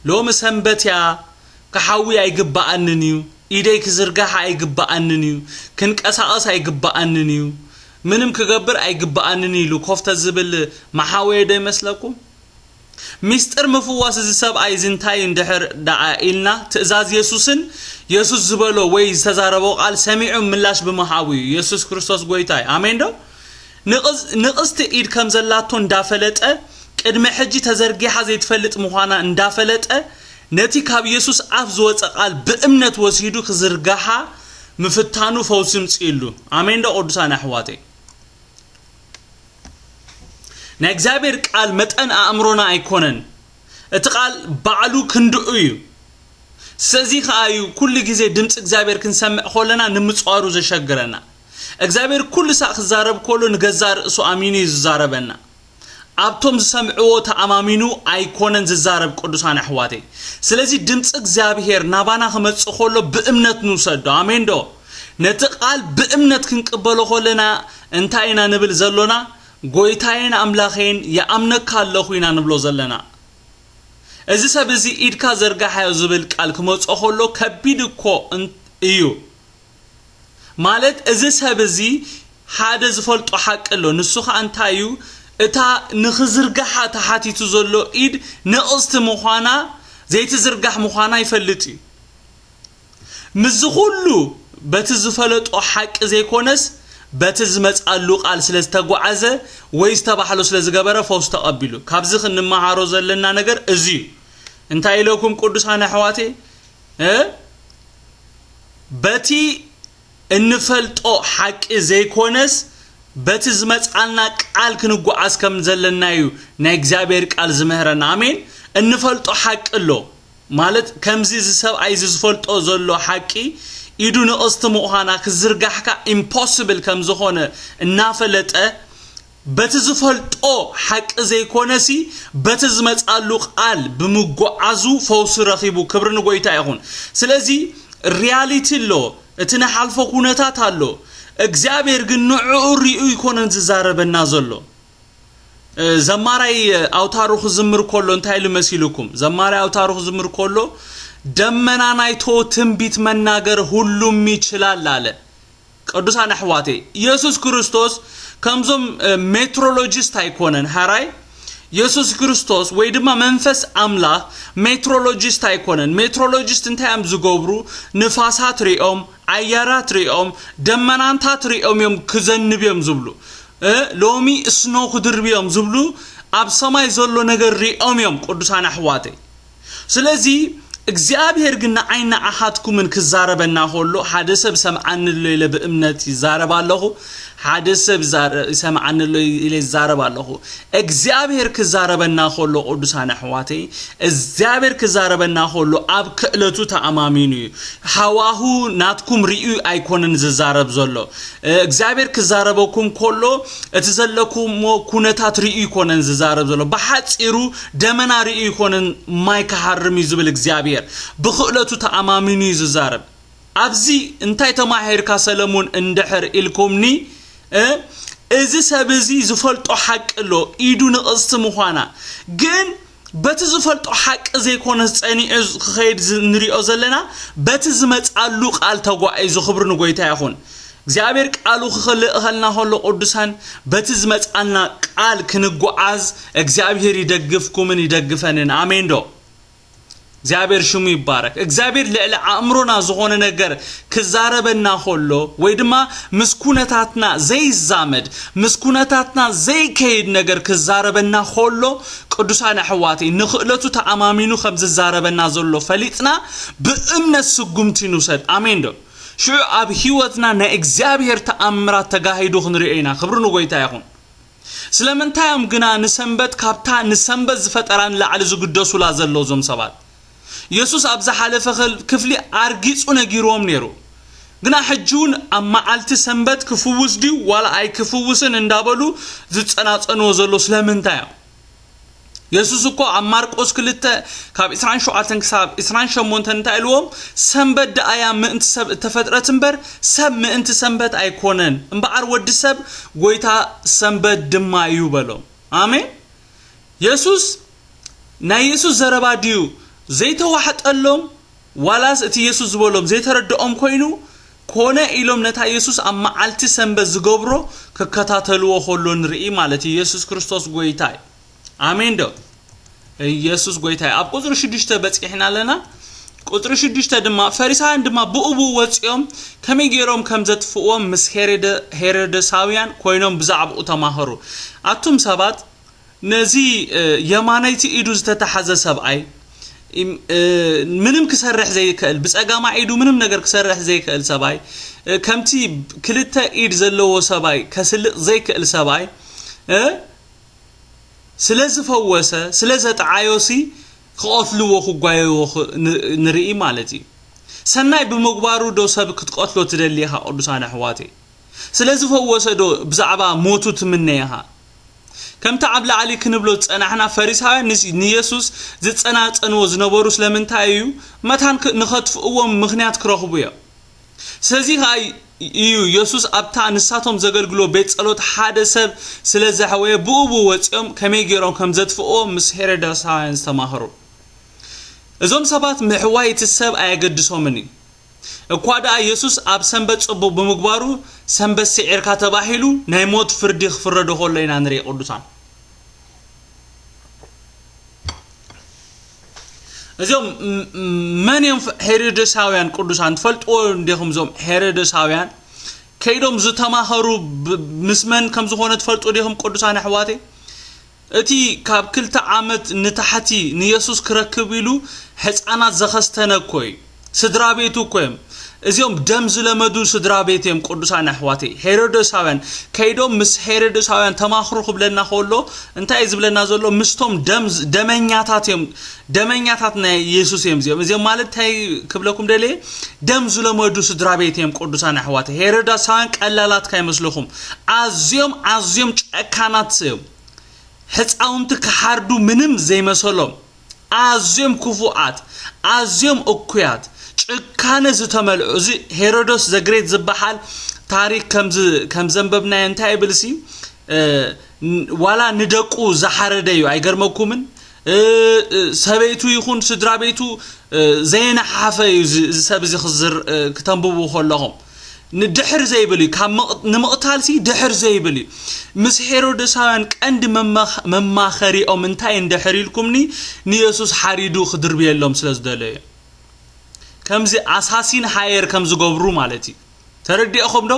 ሎሚ ሰንበት እያ ክሓዊ ኣይግባኣንን እዩ ኢደይ ክዝርጋሕ ኣይግባኣንን እዩ ክንቀሳቐስ ኣይግባኣንን እዩ ምንም ክገብር ኣይግባኣንን ኢሉ ኮፍ ተዝብል መሓወየ ዶ ይመስለኩም ሚስጥር ምፍዋስ እዚ ሰብኣይ እዚ እንታይ እንድሕር ደኣ ኢልና ትእዛዝ የሱስን የሱስ ዝበሎ ወይ ዝተዛረቦ ቃል ሰሚዑ ምላሽ ብምሃቡ እዩ የሱስ ክርስቶስ ጎይታ እዩ ኣሜን ዶ ንቕስቲ ኢድ ከም ዘላቶ እንዳፈለጠ፣ ቅድሚ ሕጂ ተዘርጊሓ ዘይትፈልጥ ምዃና እንዳፈለጠ፣ ነቲ ካብ የሱስ ኣፍ ዝወጸ ቃል ብእምነት ወሲዱ ክዝርግሓ ምፍታኑ ፈውሲ ምጺኡሉ። ኣሜን ዶ ቅዱሳን ኣሕዋተይ። ናይ እግዚኣብሔር ቃል መጠን ኣእምሮና ኣይኮነን። እቲ ቃል ባዕሉ ክንድኡ እዩ። ስለዚ ከኣ እዩ ኩሉ ግዜ ድምጺ እግዚኣብሔር ክንሰምዕ ከለና ንምጽዋሩ ዘሸግረና። እግዚኣብሄር ኩሉ ሳዕ ክዛረብ ከሎ ንገዛእ ርእሱ ኣሚኑ እዩ ዝዛረበና ኣብቶም ዝሰምዕዎ ተኣማሚኑ ኣይኮነን ዝዛረብ ቅዱሳን ኣሕዋተይ ስለዚ ድምፂ እግዚኣብሄር ናባና ክመፅእ ከሎ ብእምነት ንውሰዶ ኣሜን ዶ ነቲ ቃል ብእምነት ክንቅበሎ ከለና እንታይ ኢና ንብል ዘሎና ጎይታዬን ኣምላኸዬን ይኣምነካ ኣለኹ ኢና ንብሎ ዘለና እዚ ሰብ እዚ ኢድካ ዘርጋሓዮ ዝብል ቃል ክመፆ ከሎ ከቢድ እኮ እዩ ማለት እዚ ሰብ እዚ ሓደ ዝፈልጦ ሓቂ ኣሎ ንሱ ከኣ እንታይ እዩ እታ ንኽዝርጋሓ ተሓቲቱ ዘሎ ኢድ ንቕስቲ ምዃና ዘይትዝርጋሕ ምዃና ይፈልጥ እዩ ምስዚ ኩሉ በቲ ዝፈለጦ ሓቂ ዘይኮነስ በቲ ዝመጽኣሉ ቃል ስለ ዝተጓዓዘ ወይ ዝተባሕሎ ስለ ዝገበረ ፈውስ ተቐቢሉ ካብዚ ክንመሃሮ ዘለና ነገር እዚ እዩ እንታይ ኢለኩም ቅዱሳን ኣሕዋቴ በቲ እንፈልጦ ሓቂ ዘይኮነስ በቲ ዝመጽኣልና ቃል ክንጓዓዝ ከም ዘለና እዩ ናይ እግዚኣብሔር ቃል ዝምህረና ኣሜን እንፈልጦ ሓቂ ኣሎ ማለት ከምዚ እዚ ሰብኣይ እዚ ዝፈልጦ ዘሎ ሓቂ ኢዱ ንቕስቲ ምዃና ክዝርጋሕካ ኢምፖስብል ከም ዝኾነ እናፈለጠ በቲ ዝፈልጦ ሓቂ ዘይኮነሲ በቲ ዝመጻሉ ቃል ብምጉዓዙ ፈውሲ ረኺቡ ክብሪ ንጎይታ ይኹን ስለዚ ርያሊቲ ኣሎ እቲ ንሓልፎ ኩነታት ኣሎ እግዚኣብሔር ግን ንዕዑ ሪኡ ኣይኮነን ዝዛረበና ዘሎ ዘማራይ ኣውታሩ ክዝምር ኮሎ እንታይ ኢሉ መሲሉኩም ዘማራይ ኣውታሩ ክዝምር ኮሎ ደመና ናይቶ ትንቢት መናገር ሁሉም ይችላል ኣለ ቅዱሳን ኣሕዋተይ ኢየሱስ ክርስቶስ ከምዞም ሜትሮሎጂስት ኣይኮነን ሃራይ ኢየሱስ ክርስቶስ ወይ ድማ መንፈስ ኣምላኽ ሜትሮሎጂስት ኣይኮነን ሜትሮሎጂስት እንታይ እዮም ዝገብሩ ንፋሳት ሪኦም ኣያራት ሪኦም ደመናንታት ሪኦም እዮም ክዘንብ እዮም ዝብሉ እ፣ ሎሚ እስኖ ክድርብ እዮም ዝብሉ ኣብ ሰማይ ዘሎ ነገር ሪኦም እዮም ቅዱሳን ኣሕዋተይ ስለዚ እግዚኣብሄር ግን ንዓይን ንዓኻትኩምን ክዛረበና ከሎ ሓደ ሰብ ሰምዓኒ ኣሎ ኢለ ብእምነት ይዛረብ ኣለኹ ሓደ ሰብ ይሰምዓኒ ኣሎ ኢለ ይዛረብ ኣለኹ እግዚኣብሄር ክዛረበና ከሎ ቅዱሳን ኣሕዋተይ እግዚኣብሄር ክዛረበና ከሎ ኣብ ክእለቱ ተኣማሚኑ እዩ ሃዋሁ ናትኩም ርእዩ ኣይኮነን ዝዛረብ ዘሎ እግዚኣብሄር ክዛረበኩም ከሎ እቲ ዘለኩሞ ኩነታት ርእዩ ኣይኮነን ዝዛረብ ዘሎ ብሓጺሩ ደመና ርእዩ ኣይኮነን ማይ ክሃርም እዩ ዝብል እግዚኣብሔር ብክእለቱ ተኣማሚኑ እዩ ዝዛረብ ኣብዚ እንታይ ተማሂርካ ሰለሙን እንድሕር ኢልኩምኒ እ እዚ ሰብ እዚ ዝፈልጦ ሓቂ ኣሎ ኢዱ ንቕስቲ ምዃና ግን በቲ ዝፈልጦ ሓቂ ዘይኮነስ ጸኒዑ ክኸይድ ንሪኦ ዘለና በቲ ዝመጻሉ ቃል ተጓዒዙ ክብሪ ንጎይታ ይኹን እግዚኣብሔር ቃሉ ክልእኸልና ከሎ ቅዱሳን በቲ ዝመጻልና ቃል ክንጓዓዝ እግዚኣብሔር ይደግፍኩምን ይደግፈንን ኣሜን ዶ እግዚኣብሔር ሽሙ ይባረክ እግዚኣብሔር ልዕሊ ኣእምሮና ዝኾነ ነገር ክዛረበና ከሎ ወይ ድማ ምስ ኩነታትና ዘይዛመድ ምስ ኩነታትና ዘይከይድ ነገር ክዛረበና ከሎ ቅዱሳን ኣሕዋተይ ንክእለቱ ተኣማሚኑ ከም ዝዛረበና ዘሎ ፈሊጥና ብእምነት ስጉምቲ ንውሰድ ኣሜን ዶ ሽዑ ኣብ ህይወትና ናይ እግዚኣብሔር ተኣምራት ተጋሂዱ ክንሪኦ ኢና ክብሪ ንጎይታ ይኹን ስለምንታይ እዮም ግና ንሰንበት ካብታ ንሰንበት ዝፈጠራ ንላዕሊ ዝግደሱላ ዘለዉ እዞም ሰባት? የሱስ ኣብ ዝሓለፈ ክፍሊ ኣርጊጹ ነጊርዎም ነይሩ። ግና ሕጂውን ኣብ መዓልቲ ሰንበት ክፍውስ ድዩ ዋላ ኣይክፍውስን እንዳበሉ ዝጸናጸንዎ ዘለዉ ስለምንታይ እዮም? የሱስ እኮ ኣብ ማርቆስ ክልተ ካብ ዕስራን ሸውዓተን ክሳብ ዕስራን ሸሞንተን እንታይ ኢልዎም ሰንበት ደኣ እያ ምእንቲ ሰብ እተፈጥረት እምበር ሰብ ምእንቲ ሰንበት ኣይኮነን እምበኣር ወዲ ሰብ ጎይታ ሰንበት ድማ እዩ በሎም ኣሜን የሱስ ናይ የሱስ ዘረባ ድዩ ዘይተዋሕጠሎም ዋላስ እቲ የሱስ ዝበሎም ዘይተረድኦም ኰይኑ ኰነ ኢሎም ነታ የሱስ ኣብ መዓልቲ ሰንበት ዝገብሮ ክከታተልዎ ከሎ ንርኢ ማለት እዩ የሱስ ክርስቶስ ጐይታ እዩ ኣሜን ዶ ኢየሱስ ጐይታ እዩ ኣብ ቁጽሪ ሽዱሽተ በጺሕና ኣለና ቁጽሪ ሽዱሽተ ድማ ፈሪሳውያን ድማ ብኡ ብኡ ወጺኦም ከመይ ገይሮም ከም ዘጥፍእዎም ምስ ሄሮደሳውያን ኰይኖም ብዛዕባኡ ተማኸሩ ኣቱም ሰባት ነዚ የማነይቲ ኢዱ ዝተታሕዘ ሰብኣይ፣ ምንም ክሰርሕ ዘይከእል፣ ብጸጋማይ ኢዱ ምንም ነገር ክሰርሕ ዘይከእል ሰብኣይ፣ ከምቲ ክልተ ኢድ ዘለዎ ሰብኣይ ከስልጥ ዘይከእል ሰብኣይ እ ስለ ዝፈወሰ ስለ ዘጥዓዮሲ ክቐትልዎ ክጓየዎ ንርኢ ማለት እዩ። ሰናይ ብምግባሩ ዶ ሰብ ክትቀትሎ ትደሊ ኢኻ ቅዱሳን ኣሕዋተይ? ስለ ዝፈወሰ ዶ ብዛዕባ ሞቱ ትምነ ኢኻ? ከምቲ ኣብ ላዕሊ ክንብሎ ዝጸናሕና ፈሪሳውያን ንየሱስ ዝጸናጸንዎ ዝነበሩ ስለምንታይ እዩ? መታን ንኸጥፍእዎ ምኽንያት ክረኽቡ እዮም። ስለዚ ኸኣ እዩ የሱስ ኣብታ ንሳቶም ዘገልግልዎ ቤት ጸሎት ሓደ ሰብ ስለ ዘሕወየ ብኡብኡ ወጺኦም ከመይ ገይሮም ከም ዘጥፍእዎ ምስ ሄሮድሳውያን ዝተማኸሩ። እዞም ሰባት ምሕዋይ እቲ ሰብ ኣየገድሶምን እዩ። እኳ ደኣ የሱስ ኣብ ሰንበት ጽቡቕ ብምግባሩ ሰንበት ስዒርካ ተባሂሉ ናይ ሞት ፍርዲ ክፍረዶ ከሎ ኢና ንርኢ ቅዱሳን እዚኦም መን እዮም ሄሮደሳውያን ቅዱሳን ትፈልጥዎ እንዲኹም እዞም ሄሮደሳውያን ከይዶም ዝተማኸሩ ምስ መን ከም ዝኾነ ትፈልጡ ዲኹም ቅዱሳን ኣሕዋተይ እቲ ካብ ክልተ ዓመት ንታሕቲ ንየሱስ ክረክብ ኢሉ ሕጻናት ዘኸስተነ እኮ እዩ ስድራ ቤቱ እኮ እዮም እዚኦም ደም ዝለመዱ ስድራ ቤት እዮም ቅዱሳን ኣሕዋተይ ሄሮዶሳውያን ከይዶም ምስ ሄሮዶሳውያን ተማኽሩ ክብለና ከሎ እንታይ እዩ ዝብለና ዘሎ ምስቶም ደም ደመኛታት እዮም ደመኛታት ናይ የሱስ እዮም እዚኦም እዚኦም ማለት እንታይ ክብለኩም ደልየ ደም ዝለመዱ ስድራ ቤት እዮም ቅዱሳን ኣሕዋተይ ሄሮዶሳውያን ቀላላት ካይመስለኹም ኣዝዮም ኣዝዮም ጨካናት እዮም ሕፃውንቲ ክሓርዱ ምንም ዘይመሰሎም ኣዝዮም ክፉኣት ኣዝዮም እኩያት ጭካነ ዝተመልኦ እዚ ሄሮዶስ ዘግሬት ዝበሃል ታሪክ ከም ዘንበብናዮ እንታይ ይብልሲ ዋላ ንደቁ ዝሓረደ እዩ ኣይገርመኩምን ሰበይቱ ይኹን ስድራ ቤቱ ዘየነሓሓፈ እዩ እዚ ሰብ እዚ ክተንብቡ ከለኹም ንድሕር ዘይብል እዩ ካብ ንምቕታል ሲ ድሕር ዘይብል እዩ ምስ ሄሮደሳውያን ቀንዲ መማኸሪኦም እንታይ እንድሕር ኢልኩምኒ ንየሱስ ሓሪዱ ክድርብየሎም ስለ ዝደለዩ ከምዚ ኣሳሲን ሃየር ከም ዝገብሩ ማለት እዩ ተረዲእኹምዶ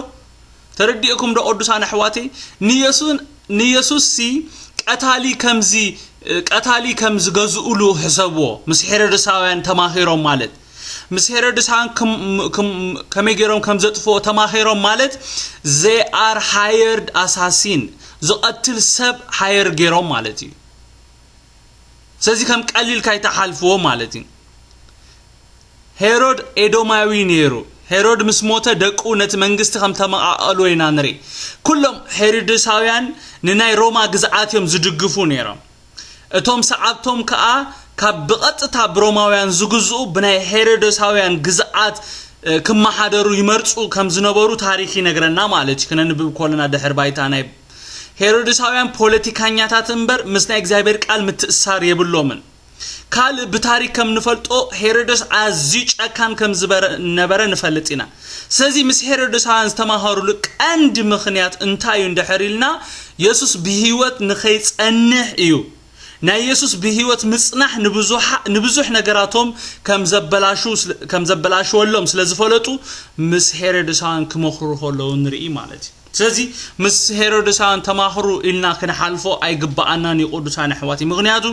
ተረዲእኩምዶ ቅዱሳን ኣሕዋተይ ንየሱን ንየሱስሲ ቀታሊ ከምዚ ቀታሊ ከም ዝገዝኡሉ ሕሰብዎ ምስ ሄሮድሳውያን ተማኺሮም ማለት ምስ ሄሮድሳን ከመይ ገይሮም ከም ዘጥፍኦ ተማኺሮም ማለት ዘይ ኣር ሃየርድ ኣሳሲን ዝቐትል ሰብ ሃየር ገይሮም ማለት እዩ ስለዚ ከም ቀሊል ካይተሓልፍዎ ማለት እዩ ሄሮድ ኤዶማዊ ነይሩ። ሄሮድ ምስ ሞተ ደቁ ነቲ መንግስቲ ከም ተመቓቐልዎ ኢና ንርኢ። ኩሎም ሄሮድሳውያን ንናይ ሮማ ግዝኣት እዮም ዝድግፉ ነይሮም። እቶም ሰዓብቶም ከኣ ካብ ብቐጥታ ብሮማውያን ዝግዝኡ ብናይ ሄሮዶሳውያን ግዝኣት ክመሓደሩ ይመርጹ ከም ዝነበሩ ታሪኽ ይነግረና ማለት እዩ። ክነንብብ ኮለና ድሕሪ ባይታ ናይ ሄሮድሳውያን ፖለቲካኛታት እምበር ምስ ናይ እግዚኣብሔር ቃል ምትእስሳር የብሎምን። ካልእ ብታሪክ ከም ንፈልጦ ሄሮዶስ ኣዝዩ ጨካን ከም ዝነበረ ንፈልጥ ኢና። ስለዚ ምስ ሄሮዶሳውያን ዝተማሃሩሉ ቀንዲ ምኽንያት እንታይ እዩ እንድሕር ኢልና የሱስ ብህይወት ንኸይጸንሕ እዩ። ናይ የሱስ ብህይወት ምጽናሕ ንብዙሕ ነገራቶም ከም ዘበላሽወሎም ስለ ዝፈለጡ ምስ ሄሮዶሳውያን ክመኽሩ ከለዉ ንርኢ ማለት እዩ። ስለዚ ምስ ሄሮድሳውያን ተማኽሩ ኢልና ክንሓልፎ ኣይግብኣናን እዩ ቅዱሳን ኣሕዋትይ ምክንያቱ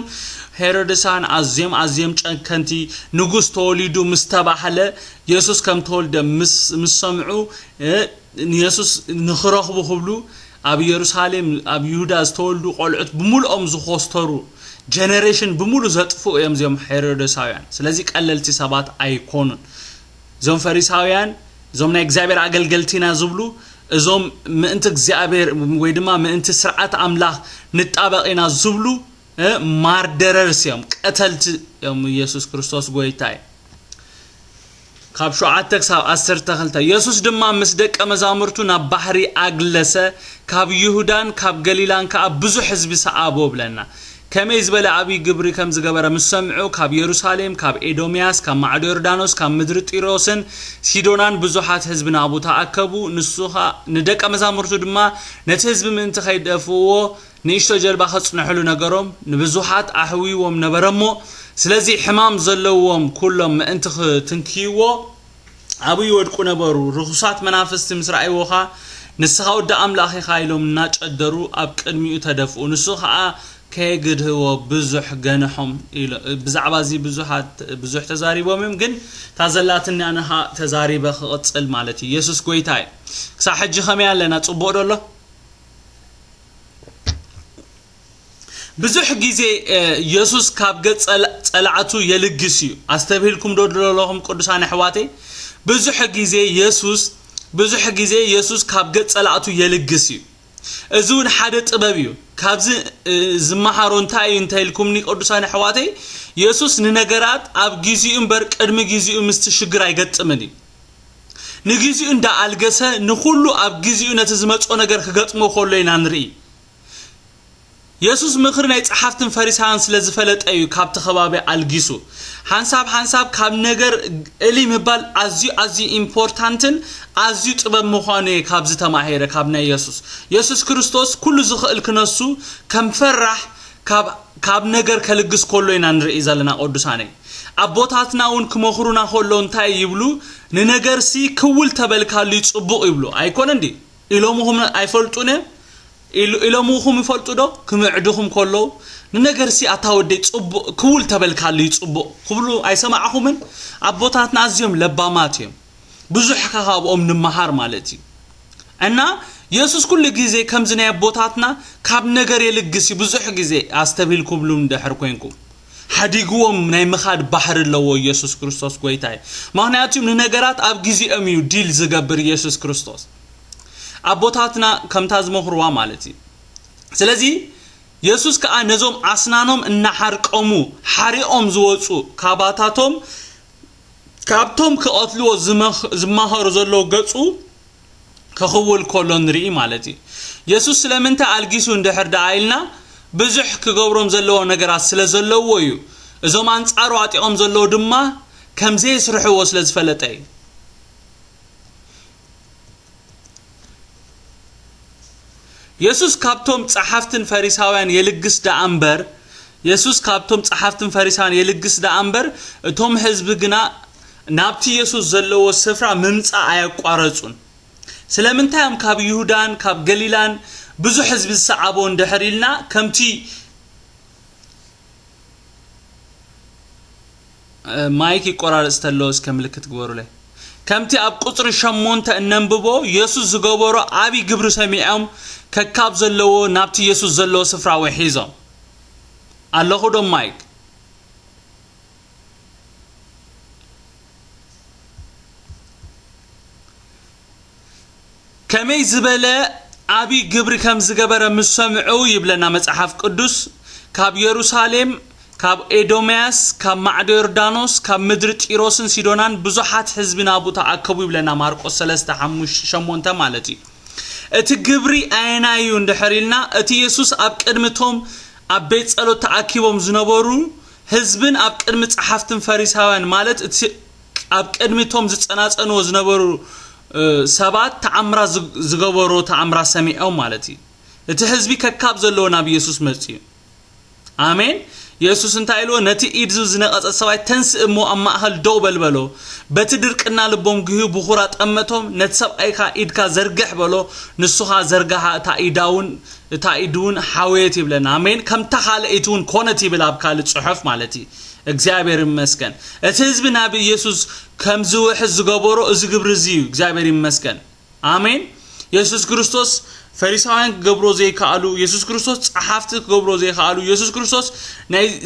ሄሮድሳውያን ኣዝዮም ኣዝዮም ጨከንቲ ንጉስ ተወሊዱ ምስ ተባህለ የሱስ ከም ተወልደ ምስ ሰምዑ ንየሱስ ንክረኽቡ ክብሉ ኣብ የሩሳሌም ኣብ ይሁዳ ዝተወልዱ ቆልዑት ብምልኦም ዝኮስተሩ ጀነሬሽን ብምሉ ዘጥፍኡ እዮም እዚኦም ሄሮድሳውያን ስለዚ ቀለልቲ ሰባት ኣይኮኑን እዞም ፈሪሳውያን እዞም ናይ እግዚኣብሔር ኣገልገልቲ ኢና ዝብሉ እዞም ምእንቲ እግዚኣብሔር ወይ ድማ ምእንቲ ስርዓት ኣምላኽ ንጣበቕ ኢና ዝብሉ ማርደረርስ እዮም ቀተልቲ እዮም ኢየሱስ ክርስቶስ ጎይታ እዩ ካብ ሸውዓተ ክሳብ ዓሰርተ ክልተ ኢየሱስ ድማ ምስ ደቀ መዛሙርቱ ናብ ባሕሪ ኣግለሰ ካብ ይሁዳን ካብ ገሊላን ከዓ ብዙሕ ህዝቢ ሰዓቦ ብለና ከመይ ዝበለ ኣብዪ ግብሪ ከም ዝገበረ ምስ ሰምዑ፣ ካብ የሩሳሌም፣ ካብ ኤዶምያስ፣ ካብ ማዕዶ ዮርዳኖስ፣ ካብ ምድሪ ጢሮስን ሲዶናን ብዙሓት ህዝቢ ናብኡ ተኣከቡ፣ ንሱ ኸኣ ንደቀ መዛሙርቱ ድማ ነቲ ህዝቢ ምእንቲ ኸይደፍእዎ ንእሽቶ ጀልባ ኸጽንሕሉ ነገሮም፣ ንብዙሓት ኣሕውይዎም ነበረ እሞ፣ ስለዚ ሕማም ዘለዎም ኵሎም ምእንቲ ኽትንክይዎ፣ ኣብኡ ይወድቁ ነበሩ። ርኹሳት መናፍስቲ ምስ ረኣይዎኻ፣ ንስኻ ወዲ ኣምላኽ ኢኻ ኢሎም እናጨደሩ ኣብ ቅድሚኡ ተደፍኡ። ንሱ ኸኣ ከየግድህዎ ብዙሕ ገንሖም። ብዛዕባ እዚ ብዙሓት ብዙሕ ተዛሪቦም እዮም፣ ግን እታ ዘላትኒ ኣነ ኸኣ ተዛሪበ ክቕጽል ማለት እዩ። የሱስ ጐይታ እዩ። ክሳዕ ሕጂ ከመይ ኣለና? ጽቡቕዶ ኣሎ? ብዙሕ ግዜ የሱስ ካብ ገጽ ጸላእቱ የልግስ እዩ ኣስተብሂልኩም ዶ ዘለኹም ቅዱሳን ኣሕዋተይ ብዙሕ ግዜ የሱስ ብዙሕ ግዜ የሱስ ካብ ገጽ ጸላእቱ የልግስ እዩ እዚ እውን ሓደ ጥበብ እዩ ካብዚ ዝመሃሮ እንታይ እዩ እንታይ ኢልኩምኒ ቅዱሳን ኣሕዋተይ የሱስ ንነገራት ኣብ ግዜኡ እምበር ቅድሚ ግዜኡ ምስቲ ሽግር ኣይገጥምን እዩ ንግዜኡ እንዳ ኣልገሰ ንኹሉ ኣብ ግዜኡ ነቲ ዝመፅኦ ነገር ክገጥሞ ከሎ ኢና ንርኢ የሱስ ምኽሪ ናይ ጸሓፍትን ፈሪሳውያን ስለ ዝፈለጠ እዩ ካብቲ ከባቢ ኣልጊሱ። ሓንሳብ ሓንሳብ ካብ ነገር እልይ ምባል ኣዝዩ ኣዝዩ ኢምፖርታንትን ኣዝዩ ጥበብ ምዃኑ እየ ካብዚ ተማሂረ ካብ ናይ የሱስ። የሱስ ክርስቶስ ኩሉ ዝኽእል ክነሱ ከም ፈራሕ ካብ ካብ ነገር ከልግስ ከሎ ኢና ንርኢ ዘለና ቅዱሳነይ። ኣቦታትና እውን ክመኽሩና ከሎ እንታይ ይብሉ ንነገርሲ ክውል ተበልካሉዩ ጽቡቕ ይብሉ ኣይኮነን ድዩ? ኢሎምኹም ኣይፈልጡን እዮም ኢሎምኹም ይፈልጡ ዶ ክምዕዱኹም ከለዉ ንነገርሲ ኣታ ወደይ ጽቡቅ ክውል ተበልካልይ ጽቡቅ ክብሉ ኣይሰማዕኹምን ኣቦታትና ኣዝዮም ለባማት እዮም ብዙሕ ካብኦም ንመሃር ማለት እዩ እና የሱስ ኩሉ ግዜ ከምዚ ናይ ኣቦታትና ካብ ነገር የልግስ እዩ ብዙሕ ግዜ ኣስተብሂልኩብሉም ድሕር ኮንኩም ሓዲግዎም ናይ ምኻድ ባህሪ ኣለዎ ኢየሱስ ክርስቶስ ጎይታ እዩ ምክንያቱ ንነገራት ኣብ ግዜኦም እዩ ዲል ዝገብር ኢየሱስ ክርስቶስ ኣቦታትና ከምታ ዝመኽርዋ ማለት እዩ ስለዚ የሱስ ከዓ ነዞም ኣስናኖም እናሓርቀሙ ሓሪቆም ዝወፁ ካባታቶም ካብቶም ክቐትልዎ ዝማሃሩ ዘለዉ ገፁ ክኽውል ከሎ ንርኢ ማለት እዩ የሱስ ስለምንታይ ኣልጊሱ እንድሕር ደኣ ኢልና ብዙሕ ክገብሮም ዘለዎ ነገራት ስለ ዘለዎ እዩ እዞም ኣንጻሩ ኣጢቖም ዘለዉ ድማ ከም ዘየስርሕዎ ስለ ዝፈለጠ እዩ የሱስ ካብቶም ጸሓፍትን ፈሪሳውያን የልግስ ደኣ እምበር የሱስ ካብቶም ጸሓፍትን ፈሪሳውያን የልግስ ደኣ እምበር እቶም ህዝቢ ግና ናብቲ የሱስ ዘለዎ ስፍራ ምምጻእ ኣየቋረጹን። ስለምንታይ እዮም ካብ ይሁዳን ካብ ገሊላን ብዙሕ ህዝቢ ዝሰዓቦ እንድሕር ኢልና ከምቲ ማይክ ይቆራረጽ ተሎ እስከ ምልክት ግበሩለይ ከምቲ ኣብ ቁጽሪ ሸሞንተ እነንብቦ የሱስ ዝገበሮ ዓብዪ ግብሪ ሰሚዖም ከካብ ዘለዎ ናብቲ የሱስ ዘለዎ ስፍራ ውሒዞም ኣለኹ ዶ ማይክ ከመይ ዝበለ ኣብይ ግብሪ ከም ዝገበረ ምስ ሰምዑ ይብለና መጽሓፍ ቅዱስ ካብ የሩሳሌም ካብ ኤዶምያስ ካብ ማዕዶ ዮርዳኖስ ካብ ምድሪ ጢሮስን ሲዶናን ብዙሓት ህዝቢ ናብኡ ተኣከቡ ይብለና ማርቆስ 3 ሓሙሽ- ሸሞንተ ማለት እዩ እቲ ግብሪ ኣየናይ እዩ እንድሕር ኢልና እቲ የሱስ ኣብ ቅድሚ እቶም ኣብ ቤት ጸሎት ተኣኪቦም ዝነበሩ ህዝብን ኣብ ቅድሚ ጸሓፍትን ፈሪሳውያን ማለት እቲ ኣብ ቅድሚ እቶም ዝጸናጸንዎ ዝነበሩ ሰባት ተኣምራት ዝገበሮ ተኣምራት ሰሚዖም ማለት እዩ እቲ ህዝቢ ከካብ ዘለዎ ናብ ኢየሱስ መጽኡ ኣሜን ኢየሱስ እንታይ ኢልዎ ነቲ ኢድዙ ዝነቐጸ ሰብኣይ ተንስእ እሞ ኣብ ማእኸል ደው በል በሎ በቲ ድርቅና ልቦም ግህዩ ብኹራ ጠመቶም ነቲ ሰብኣይካ ኢድካ ዘርግሕ በሎ ንሱኻ ዘርጋሓ እታ ኢዳውን እታ ኢዱውን ሓወየት ይብለና ኣሜን ከምታ ካልኣይቲውን ኮነት ይብል ኣብ ካልእ ጽሑፍ ማለት እዩ እግዚኣብሔር ይመስገን እቲ ህዝቢ ናብ ኢየሱስ ከምዝውሕዝ ዝገበሮ እዚ ግብሪ እዚ እዩ እግዚኣብሔር ይመስገን ኣሜን የሱስ ክርስቶስ ፈሪሳውያን ክገብሮ ዘይከኣሉ የሱስ ክርስቶስ ጸሓፍቲ ክገብሮ ዘይከኣሉ የሱስ ክርስቶስ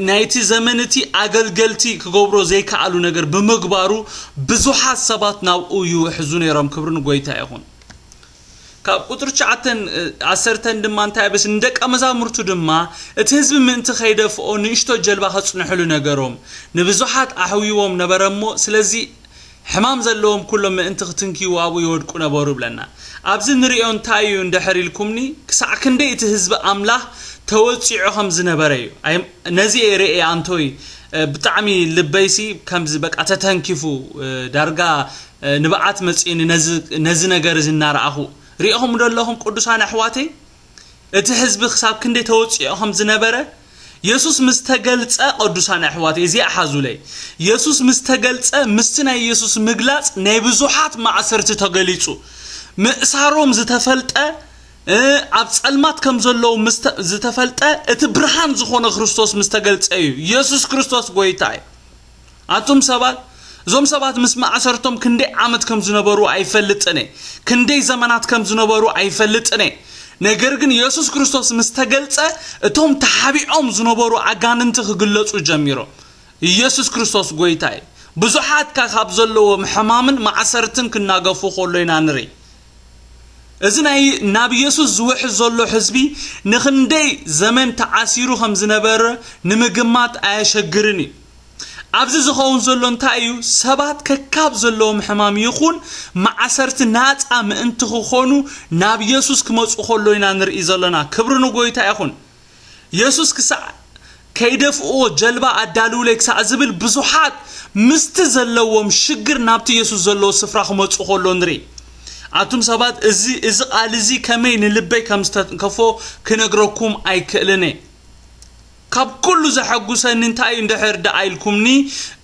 ናይቲ ዘመን እቲ ኣገልገልቲ ክገብሮ ዘይከኣሉ ነገር ብምግባሩ ብዙሓት ሰባት ናብኡ ይውሕዙ ነይሮም ክብሪ ንጎይታ ይኹን ካብ ቍጽሪ ትሽዓተን ዓሰርተን ድማ እንታይ ኣበስ፣ ንደቀ መዛሙርቱ ድማ፣ እቲ ህዝቢ ምእንቲ ኸይደፍኦ፣ ንእሽቶ ጀልባ ኸጽንሑሉ ነገሮም። ንብዙሓት ኣሕውይዎም ነበረ እሞ፣ ስለዚ፣ ሕማም ዘለዎም ኵሎም ምእንቲ ኽትንክይዎ ኣብኡ ይወድቁ ነበሩ ይብለና። ኣብዚ እንርእዮ እንታይ እዩ እንድሕር ኢልኩምኒ፣ ክሳዕ ክንደይ እቲ ህዝቢ ኣምላኽ ተወጺዑ ኸም ዝነበረ እዩ። ኣይ፣ ነዚ እየ ርእየ ኣንቶይ፣ ብጣዕሚ ልበይሲ ከምዚ በቃ ተተንኪፉ፣ ዳርጋ ንብዓት መጺኡኒ ነዚ ነዚ ነገር እዚ እናረኣኹ። ርኢኹምዶ ኣለኹም ቅዱሳን ኣሕዋተይ እቲ ሕዝቢ ክሳብ ክንደይ ተወጺኦ ከም ዝነበረ የሱስ ምስ ተገልጸ ቅዱሳን ኣሕዋተይ እዚኣ ሓዙለይ የሱስ ምስ ተገልጸ ምስቲ ናይ የሱስ ምግላጽ ናይ ብዙሓት ማእሰርቲ ተገሊጹ ምእሳሮም ዝተፈልጠ እ ኣብ ጸልማት ከም ዘለዉ ምስ ተ- ዝተፈልጠ እቲ ብርሃን ዝኾነ ክርስቶስ ምስ ተገልጸ እዩ የሱስ ክርስቶስ ጎይታ እዩ ኣቱም ሰባት እዞም ሰባት ምስ ማእሰርቶም ክንደይ ዓመት ከም ዝነበሩ ኣይፈልጥን እየ ክንደይ ዘመናት ከም ዝነበሩ ኣይፈልጥን እየ ነገር ግን የሱስ ክርስቶስ ምስ ተገልጸ እቶም ተሓቢዖም ዝነበሩ ኣጋንንቲ ክግለጹ ጀሚሮም ኢየሱስ ክርስቶስ ጎይታ እዩ ብዙሓት ካብዘለዎም ሕማምን ማእሰርትን ክናገፉ ከሎ ኢና ንርኢ እዚ ናይ ናብ ኢየሱስ ዝውሕዝ ዘሎ ሕዝቢ ንኽንደይ ዘመን ተዓሲሩ ከም ዝነበረ ንምግማት ኣየሸግርን እዩ። ኣብዚ ዝኸውን ዘሎ እንታይ እዩ? ሰባት ከካብ ዘለዎም ሕማም ይኹን ማዕሰርቲ ናጻ ምእንቲ ክኾኑ ናብ ኢየሱስ ክመጹ ከሎ ኢና ንርኢ ዘለና። ክብሪ ንጎይታ ይኹን። የሱስ ክሳዕ ከይደፍእዎ ጀልባ ኣዳልዉለይ ክሳዕ ዝብል ብዙሓት ምስቲ ዘለዎም ሽግር ናብቲ የሱስ ዘለዎ ስፍራ ክመጹ ከሎ ንርኢ። ኣቱም ሰባት እዚ እዚ ቃል እዚ ከመይ ንልበይ ከም ዝተንከፎ ክነግረኩም ኣይክእልን እየ። ካብ ኩሉ ዘሐጉሰኒ እንታይ እዩ እንድሕር ደኣ ኢልኩምኒ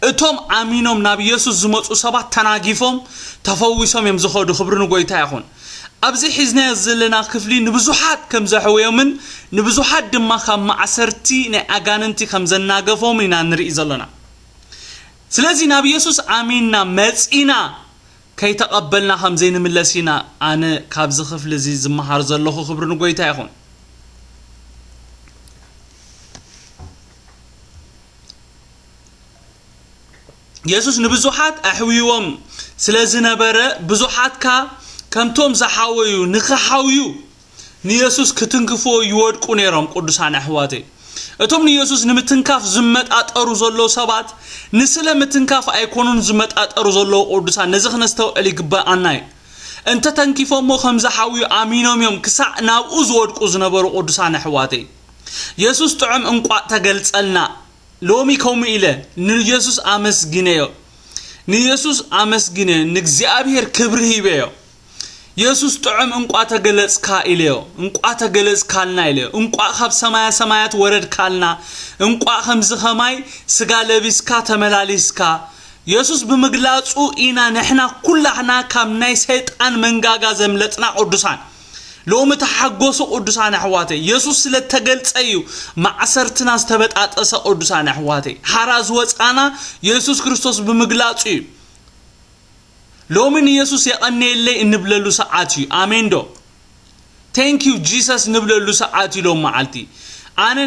እቶም ኣሚኖም ናብ የሱስ ዝመጹ ሰባት ተናጊፎም ተፈዊሶም እዮም ዝኸዱ ክብሪ ንጎይታ ይኹን። ኣብዚ ሒዝናዮ ዘለና ክፍሊ ንብዙሓት ከም ዘሕወዮምን ንብዙሓት ድማ ካብ ማእሰርቲ ናይ ኣጋንንቲ ከም ዘናገፎምን ኢና ንርኢ ዘሎና። ስለዚ ናብ የሱስ ኣሚንና መጺና ከይተቐበልና ከም ዘይንምለስ ኢና ኣነ ካብዚ ክፍሊ እዚ ዝመሃር ዘለኹ ክብሪ ንጎይታ ይኹን። የሱስ ንብዙሓት ኣሕውይዎም ስለ ዝነበረ ብዙሓትካ ከምቶም ዝሓወዩ ንኽሓውዩ ንየሱስ ክትንክፍዎ ይወድቁ ነይሮም ቅዱሳን ኣሕዋተይ እቶም ንየሱስ ንምትንካፍ ዝመጣጠሩ ዘለዉ ሰባት ንስለ ምትንካፍ ኣይኮኑን ዝመጣጠሩ ዘለዉ ቅዱሳን ነዚ ክነስተውዕል ይግባኣና እዩ እንተ ተንኪፎሞ ከም ዝሓውዩ ኣሚኖም እዮም ክሳዕ ናብኡ ዝወድቁ ዝነበሩ ቅዱሳን ኣሕዋተይ የሱስ ጥዑም እንቋእ ተገልጸልና ሎሚ ከምኡ ኢለ ንየሱስ ኣመስግነዮ ንየሱስ ኣመስግነዮ ንእግዚኣብሔር ክብሪ ሂበዮ የሱስ ጥዑም እንቋ ተገለጽካ ኢለዮ እንቋ ተገለጽካልና ኢለዮ እንቋ ካብ ሰማያ ሰማያት ወረድካልና እንቋ ከምዚ ከማይ ስጋ ለቢስካ ተመላሊስካ የሱስ ብምግላጹ ኢና ንሕና ኩላሕና ካብ ናይ ሰይጣን መንጋጋ ዘምለጥና ቅዱሳን ሎሚ ተሓጎሱ ቅዱሳን ኣሕዋተይ የሱስ ስለ ተገልጸ እዩ ማዕሰርትና ዝተበጣጠሰ ቅዱሳን ኣሕዋተይ ሓራ ዝወጻና የሱስ ክርስቶስ ብምግላጹ እዩ ሎሚ ንየሱስ የቐነየለይ እንብለሉ ሰዓት እዩ ኣሜን ዶ ቴንክ ዩ ጂሰስ ንብለሉ ሰዓት እዩ ሎም መዓልቲ ኣነ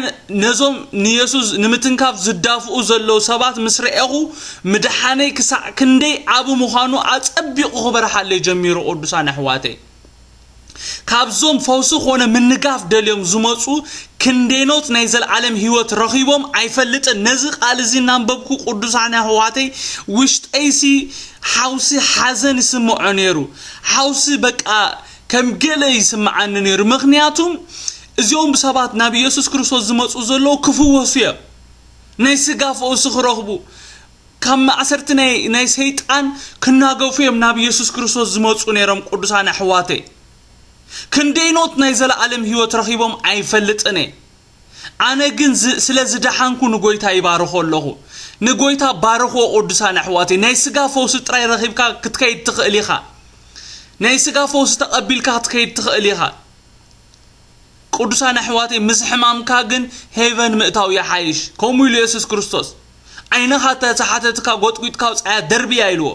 ነዞም ንየሱስ ንምትንካፍ ዝዳፍኡ ዘለዉ ሰባት ምስ ረኤኹ ምድሓነይ ክሳዕ ክንደይ ዓቢ ምዃኑ ኣጸቢቑ ክበርሓለይ ጀሚሩ ቅዱሳን ኣሕዋተይ ካብዞም ፈውሲ ኮነ ምንጋፍ ደልዮም ዝመጹ ክንዴኖት ናይ ዘልዓለም ህይወት ረኺቦም ኣይፈልጥን ነዚ ቃል እዚ እናንበብኩ ቅዱሳን ኣሕዋተይ ውሽጠይሲ ሓውሲ ሓዘን ይስምዖ ነይሩ ሓውሲ በቃ ከም ገለ ይስምዓኒ ነይሩ ምክንያቱም እዚኦም ሰባት ናብ ኢየሱስ ክርስቶስ ዝመጹ ዘለዉ ክፍወሱ እዮም ናይ ስጋ ፈውሲ ክረኽቡ ካብ ማእሰርቲ ናይ ናይ ሰይጣን ክናገፉ እዮም ናብ የሱስ ክርስቶስ ዝመጹ ነይሮም ቅዱሳን ኣሕዋተይ ክንደይኖት ናይ ዘለኣለም ህይወት ረኺቦም ኣይፈልጥን እየ ኣነ ግን ስለ ዝደሓንኩ ንጎይታ ይባርኾ ኣለኹ ንጎይታ ባርኽዎ ቅዱሳን ኣሕዋተይ ናይ ስጋ ፈውሲ ጥራይ ረኺብካ ክትከይድ ትኽእል ኢኻ ናይ ስጋ ፈውሲ ተቐቢልካ ክትከይድ ትኽእል ኢኻ ቅዱሳን ኣሕዋተይ ምስ ሕማምካ ግን ሄቨን ምእታው ይሓይሽ ከምኡ ኢሉ የሱስ ክርስቶስ ዓይንኻ ተተሓተትካ ጎጥጒጥካ ኣውጻያ ደርብያ ኢልዎ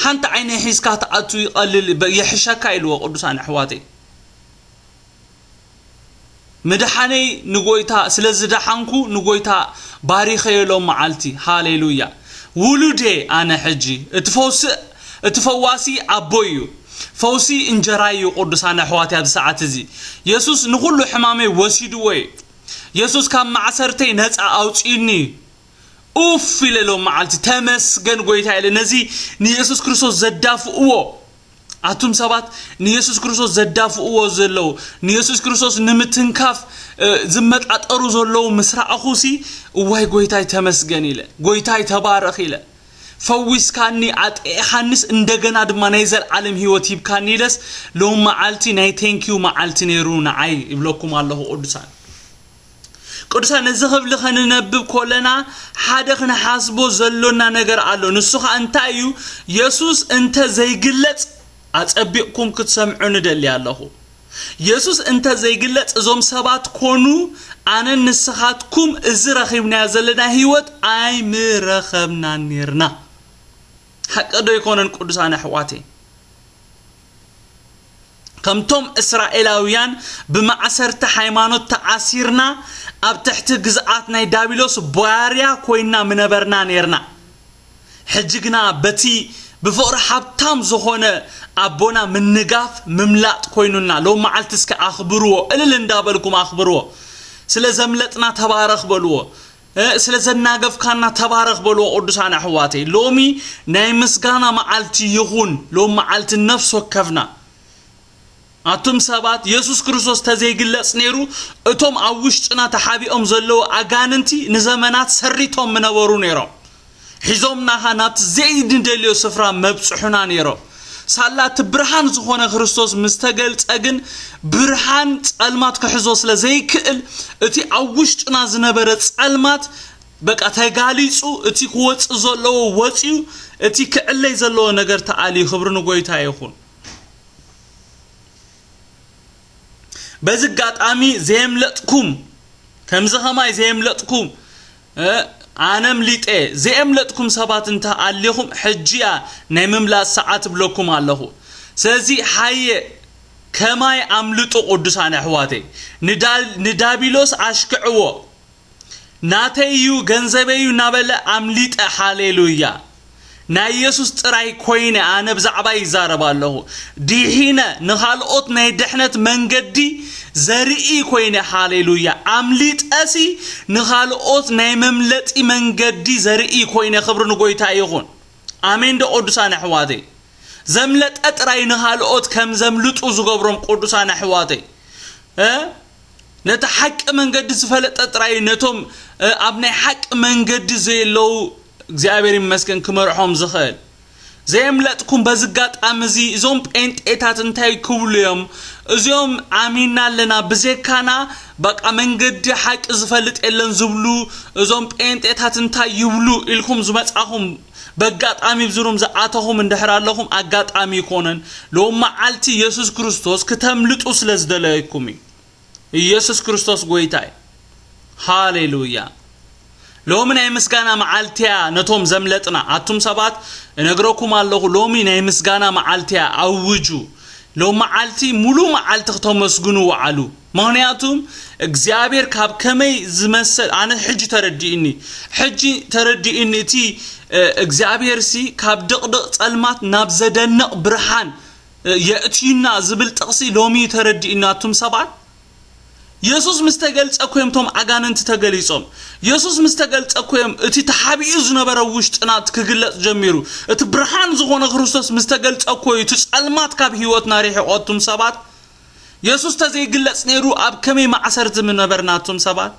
ሓንቲ ዓይነይ ሒዝካ ትኣቱ ይቀልል ይሕሸካ ኢልዎ ቅዱሳን ኣሕዋተይ ምድሓነይ ንጎይታ ስለ ዝደሓንኩ ንጎይታ ባሪኸዮ ሎም መዓልቲ ሃሌሉያ ውሉድየ ኣነ ሕጂ እቲ ፈውሲ እቲ ፈዋሲ ኣቦይ እዩ ፈውሲ እንጀራይ እዩ ቅዱሳን ኣሕዋተይ ኣብዚ ሰዓት እዚ የሱስ ንኩሉ ሕማመይ ወሲድዎ እዩ የሱስ ካብ ማዕሰርተይ ነጻ ኣውጺኡኒ እዩ ኡፍ ኢለ ሎም መዓልቲ ተመስገን ጎይታ ኢለ ነዚ ንየሱስ ክርስቶስ ዘዳፍእዎ ኣቱም ሰባት ንየሱስ ክርስቶስ ዘዳፍእዎ ዘለዉ ንየሱስ ክርስቶስ ንምትንካፍ ዝመጣጠሩ ዘለዉ ምስ ረኣኹሲ እዋይ ጎይታይ ተመስገን ኢለ ጎይታይ ተባረኽ ኢለ ፈዊስካኒ ኣጥቂዕካኒስ እንደገና ድማ ናይ ዘልዓለም ሂወት ሂብካኒ ኢለስ ሎሚ መዓልቲ ናይ ቴንኪው መዓልቲ ነይሩ ንዓይ ይብለኩም ኣለኹ ቅዱሳን ቅዱሳን ነዚ ክፍሊ ከንነብብ ኮለና ሓደ ክንሓስቦ ዘሎና ነገር ኣሎ ንሱ ከዓ እንታይ እዩ የሱስ እንተ ዘይግለጽ ኣጸቢቕኩም ክትሰምዑ ንደሊ ኣለኹ የሱስ እንተ ዘይግለጽ እዞም ሰባት ኮኑ ኣነን ንስኻትኩም እዚ ረኺብናዮ ዘለና ህይወት ኣይምረኸብናን ኔርና። ሓቂ ዶ ኣይኮነን ቅዱሳን ኣሕዋተይ? ከምቶም እስራኤላውያን ብማዕሰርቲ ሃይማኖት ተኣሲርና ኣብ ትሕቲ ግዝኣት ናይ ዳቢሎስ ባርያ ኮይንና ምነበርና ኔርና። ሕጂ ግና በቲ ብፍቕሪ ሃብታም ዝኾነ ኣቦና ምንጋፍ ምምላጥ ኮይኑና ሎም መዓልቲ እስከ ኣኽብርዎ እልል እንዳበልኩም ኣኽብርዎ ስለ ዘምለጥና ተባረኽ በልዎ ስለ ዘናገፍካና ተባረኽ በልዎ ቅዱሳን ኣሕዋተይ ሎሚ ናይ ምስጋና መዓልቲ ይኹን ሎም መዓልቲ ነፍስ ወከፍና ኣቱም ሰባት የሱስ ክርስቶስ ተዘይግለጽ ነይሩ እቶም ኣብ ውሽጥና ተሓቢኦም ዘለዉ ኣጋንንቲ ንዘመናት ሰሪቶም ምነበሩ ነይሮም ሒዞምና ኸኣ ናብቲ ዘይንደልዮ ስፍራ መብጽሑና ነይሮም ሳላ እቲ ብርሃን ዝኾነ ክርስቶስ ምስ ተገልጸ ግን ብርሃን ጸልማት ክሕዞ ስለ ዘይክእል እቲ ኣብ ውሽጥና ዝነበረ ጸልማት በቃ ተጋሊጹ እቲ ክወጽእ ዘለዎ ወጽዩ እቲ ክዕለይ ዘለዎ ነገር ተኣልዩ ክብሪ ንጎይታ ይኹን በዚ ኣጋጣሚ ዘየምለጥኩም ከምዚ ከማይ ዘየምለጥኩም ኣነ ኣምሊጠ ዘየምለጥኩም ሰባት እንተ ኣሊኹም ሕጂያ ናይ ምምላጥ ሰዓት እብለኩም ኣለኹ ስለዚ ሓየ ከማይ ኣምልጡ ቅዱሳን ኣሕዋተይ ንዳቢሎስ ኣሽክዕዎ ናተይ እዩ ገንዘበይ እዩ እናበለ ኣምሊጠ ሃሌሉያ ናይ ኢየሱስ ጥራይ ኮይነ ኣነ ብዛዕባ ይዛረብ ኣለኹ ዲሒነ ንኻልኦት ናይ ድሕነት መንገዲ ዘርኢ ኮይነ ሃሌሉያ ኣምሊጠሲ ንኻልኦት ናይ መምለጢ መንገዲ ዘርኢ ኮይነ ክብሪ ንጎይታ ይኹን ኣሜን ዶ ቅዱሳን ኣሕዋተይ ዘምለጠ ጥራይ ንኻልኦት ከም ዘምልጡ ዝገብሮም ቅዱሳን ኣሕዋተይ እ ነቲ ሓቂ መንገዲ ዝፈለጠ ጥራይ ነቶም ኣብ ናይ ሓቂ መንገዲ ዘየለዉ እግዚኣብሔር ይመስገን ክመርሖም ዝኽእል ዘየምለጥኩም በዚ ኣጋጣሚ እዚ እዞም ጴንጤታት እንታይ ክብሉ እዮም እዚኦም ኣሚና ኣለና ብዘካና በቃ መንገዲ ሓቂ ዝፈልጥ የለን ዝብሉ እዞም ጴንጤታት እንታይ ይብሉ ኢልኩም ዝመጻኹም በጋጣሚ እብዚ ሩም ዝኣተኹም እንድሕር ኣለኹም ኣጋጣሚ ኣይኮነን ሎም መዓልቲ ኢየሱስ ክርስቶስ ክተምልጡ ስለ ዝደለይኩም እዩ ኢየሱስ ክርስቶስ ጎይታ እዩ ሃሌሉያ ሎሚ ናይ ምስጋና መዓልቲያ ነቶም ዘምለጥና ኣቱም ሰባት እነግረኩም ኣለኹ ሎሚ ናይ ምስጋና መዓልቲያ ኣውጁ ሎም መዓልቲ ሙሉ መዓልቲ ክተመስግኑ ወዓሉ ምኽንያቱ እግዚኣብሔር ካብ ከመይ ዝመሰል ኣነ ሕጂ ተረዲኡኒ ሕጂ ተረዲኡኒ እቲ እግዚኣብሔርሲ ካብ ድቕድቕ ጸልማት ናብ ዘደንቕ ብርሃን የእትዩና ዝብል ጥቕሲ ሎሚ እዩ ተረዲኡኒ ኣቱም ሰባት የሱስ ምስ ተገልጸ እኮ እዮም እቶም ኣጋንንቲ ተገሊጾም የሱስ ምስ ተገልጸ እኮ እዮም እቲ ተሓቢኡ ዝነበረ ውሽጥና ክግለጽ ጀሚሩ እቲ ብርሃን ዝኾነ ክርስቶስ ምስ ተገልጸ እኮ እዩ እቲ ጸልማት ካብ ህይወትና ሪሒቖ ኣቱም ሰባት የሱስ ተዘይግለጽ ነይሩ ኣብ ከመይ ማዕሰርቲ ምነበርና ኣቱም ሰባት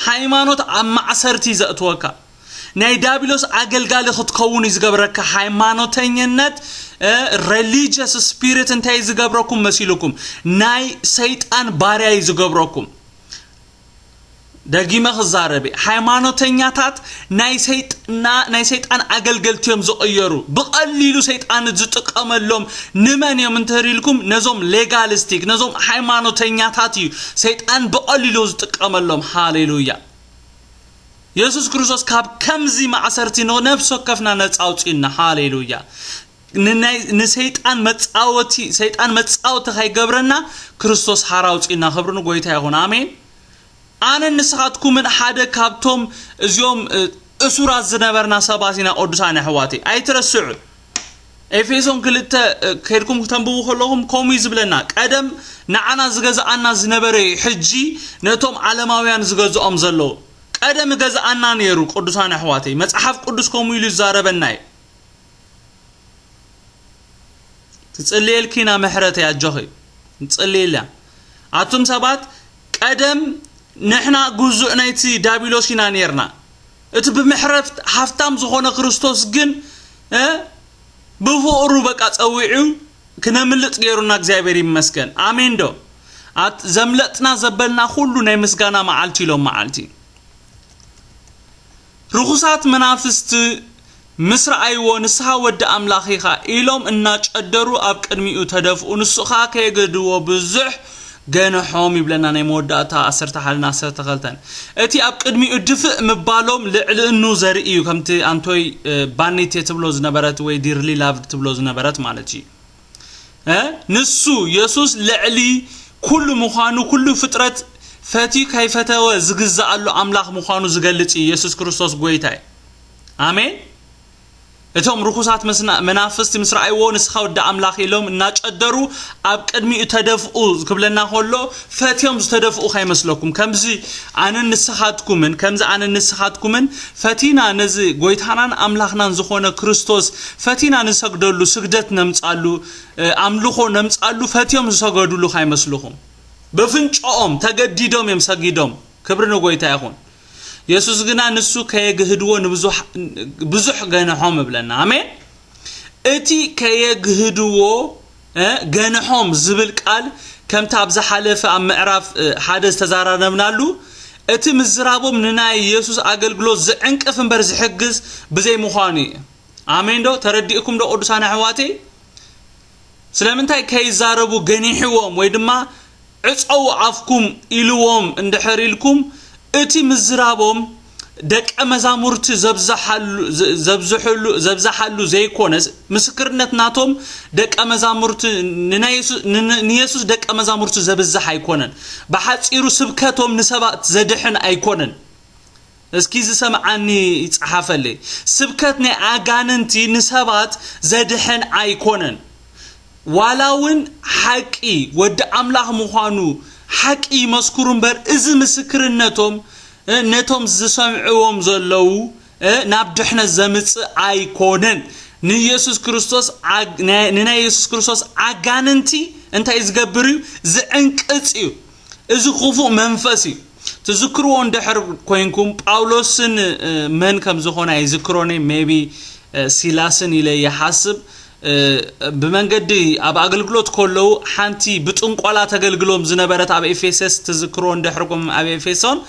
ሃይማኖት ኣብ ማዕሰርቲ እዩ ዘእትወካ ናይ ዳብሎስ ኣገልጋሊ ክትከውን እዩ ዝገብረካ ሃይማኖተኝነት ሬሊጅስ ስፒሪት እንታይ ዝገብረኩም መሲልኩም ናይ ሰይጣን ባርያ እዩ ዝገብረኩም ደጊመ ክዛረብ እየ ሃይማኖተኛታት ናይ ሰይጥና ናይ ሰይጣን ኣገልገልቲ እዮም ዝቕየሩ ብቐሊሉ ሰይጣን ዝጥቀመሎም ንመን እዮም እንተሪልኩም ነዞም ሌጋሊስቲክ ነዞም ሃይማኖተኛታት እዩ ሰይጣን ብቐሊሉ ዝጥቀመሎም ሃሌሉያ የሱስ ክርስቶስ ካብ ከምዚ ማእሰርቲ ንነፍሲ ወከፍና ነፃ ኣውፅኡና ሃሌሉያ ንናይ ንሰይጣን መጻወቲ ሰይጣን መጻወቲ ካይገብረና ክርስቶስ ሓራ ኣውጽእና ክብሪ ንጎይታ ይኹን ኣሜን ኣነን ንስኻትኩምን ሓደ ካብቶም እዚኦም እ፣ እሱራት ዝነበርና ሰባት ኢና ቅዱሳን ኣሕዋተይ ኣይትረስዑ ኤፌሶን ክልተ እ፣ ከድኩም ክተንብቡ ከለኹም ከምኡ እዩ ዝብለና ቀደም ንዓና ዝገዝኣና ዝነበረ እዩ ሕጂ ነቶም ዓለማውያን ዝገዝኦም ዘለዉ ቀደም ገዝኣና ነይሩ ቅዱሳን ኣሕዋተይ መጽሓፍ ቅዱስ ከምኡ ኢሉ ይዛረበና እዩ ትጽልየልኪ ኢና ምሕረተይ ኣጆኺ ንጽልየላ ኣቱም ሰባት ቀደም ንሕና ግዙእ ናይቲ ዳቢሎስ ኢና ነርና እቲ ብምሕረት ሃፍታም ዝኾነ ክርስቶስ ግን ብፍቕሩ በቃ ጸዊዑ ክነምልጥ ገይሩና እግዚኣብሔር ይመስገን ኣሜን ዶ ዘምለጥና ዘበልና ኩሉ ናይ ምስጋና መዓልቲ ኢሎም መዓልቲ ርኹሳት መናፍስቲ ምስ ረኣይዎ ንስኻ ወዲ ኣምላኽ ኢኻ ኢሎም እናጨደሩ ኣብ ቅድሚኡ ተደፍኡ ንሱ ከኣ ከየገድድዎ ብዙሕ ገንሖም ይብለና ናይ መወዳእታ ዓሰርተ ሓደ ን ዓሰርተ ክልተን እቲ ኣብ ቅድሚኡ ድፍእ ምባሎም ልዕልእኑ ዘርኢ እዩ ከምቲ ኣንቶይ ባኒቴ ትብሎ ዝነበረት ወይ ዲርሊ ላቭድ ትብሎ ዝነበረት ማለት እዩ እ ንሱ የሱስ ልዕሊ ኩሉ ምዃኑ ኩሉ ፍጥረት ፈትዩ ከይፈተወ ዝግዛኣሉ ኣምላኽ ምዃኑ ዝገልጽ እዩ የሱስ ክርስቶስ ጎይታ እዩ ኣሜን እቶም ርኹሳት መናፍስቲ ምስ ረኣይዎ ንስኻ ወዲ ኣምላኽ ኢሎም እናጨደሩ ኣብ ቅድሚኡ ተደፍኡ ክብለና ከሎ ፈትዮም ዝተደፍኡ ከይመስለኩም ከምዚ ኣነን ንስኻትኩምን ከምዚ ኣነን ንስኻትኩምን ፈቲና ነዚ ጎይታናን ኣምላኽናን ዝኾነ ክርስቶስ ፈቲና ንሰግደሉ ስግደት ነምጻሉ ኣምልኾ ነምጻሉ ፈትዮም ዝሰገዱሉ ከይመስልኹም በፍንጮኦም ተገዲዶም እዮም ሰጊዶም ክብሪ ንጎይታ ይኹን የሱስ ግና ንሱ ከየግህድዎ ንብዙሕ ብዙሕ ገነሖም እብለና ኣሜን እቲ ከየግህድዎ ገንሖም ዝብል ቃል ከምቲ ኣብ ዝሓለፈ ኣብ ምዕራፍ ሓደ ዝተዛራረብናሉ እቲ ምዝራቦም ንናይ የሱስ ኣገልግሎት ዝዕንቅፍ እምበር ዝሕግዝ ብዘይ ምዃኑ እዩ ኣሜን ዶ ተረዲእኩም ዶ ቅዱሳን ኣሕዋተይ ስለምንታይ ከይዛረቡ ገኒሕዎም ወይ ድማ ዕጸዉ ኣፍኩም ኢልዎም እንድሕር ኢልኩም እቲ ምዝራቦም ደቀ መዛሙርቲ ዘብዝሓሉ ዘይኮነስ ምስክርነት ናቶም ደቀ መዛሙርቲ ንየሱስ ደቀ መዛሙርቲ ዘብዝሕ ኣይኮነን ብሓጺሩ ስብከቶም ንሰባት ዘድሕን ኣይኮነን እስኪ ዝሰምዓኒ ይጽሓፈለይ። ስብከት ናይ ኣጋንንቲ ንሰባት ዘድሕን ኣይኮነን። ዋላ ውን ሓቂ ወዲ ኣምላኽ ምዃኑ ሓቂ ይመስክሩ እምበር እዚ ምስክርነቶም ነቶም ዝሰምዕዎም ዘለዉ ናብ ድሕነት ዘምጽእ ኣይኮነን። ንየሱስ ክርስቶስ ንናይ የሱስ ክርስቶስ ኣጋንንቲ እንታይ ዝገብር እዩ ዝዕንቅጽ እዩ። እዚ ክፉእ መንፈስ እዩ። ትዝክርዎ እንድሕር ኮይንኩም ጳውሎስን መን ከም ዝኾነ ኣይዝክሮን ሜቢ ሲላስን ኢለ ይሓስብ ብመንገዲ ኣብ ኣገልግሎት ከለዉ ሓንቲ ብጥንቆላ ተገልግሎም ዝነበረት ኣብ ኤፌሰስ ትዝክርዎ እንድሕርኩም ኣብ ኤፌሶን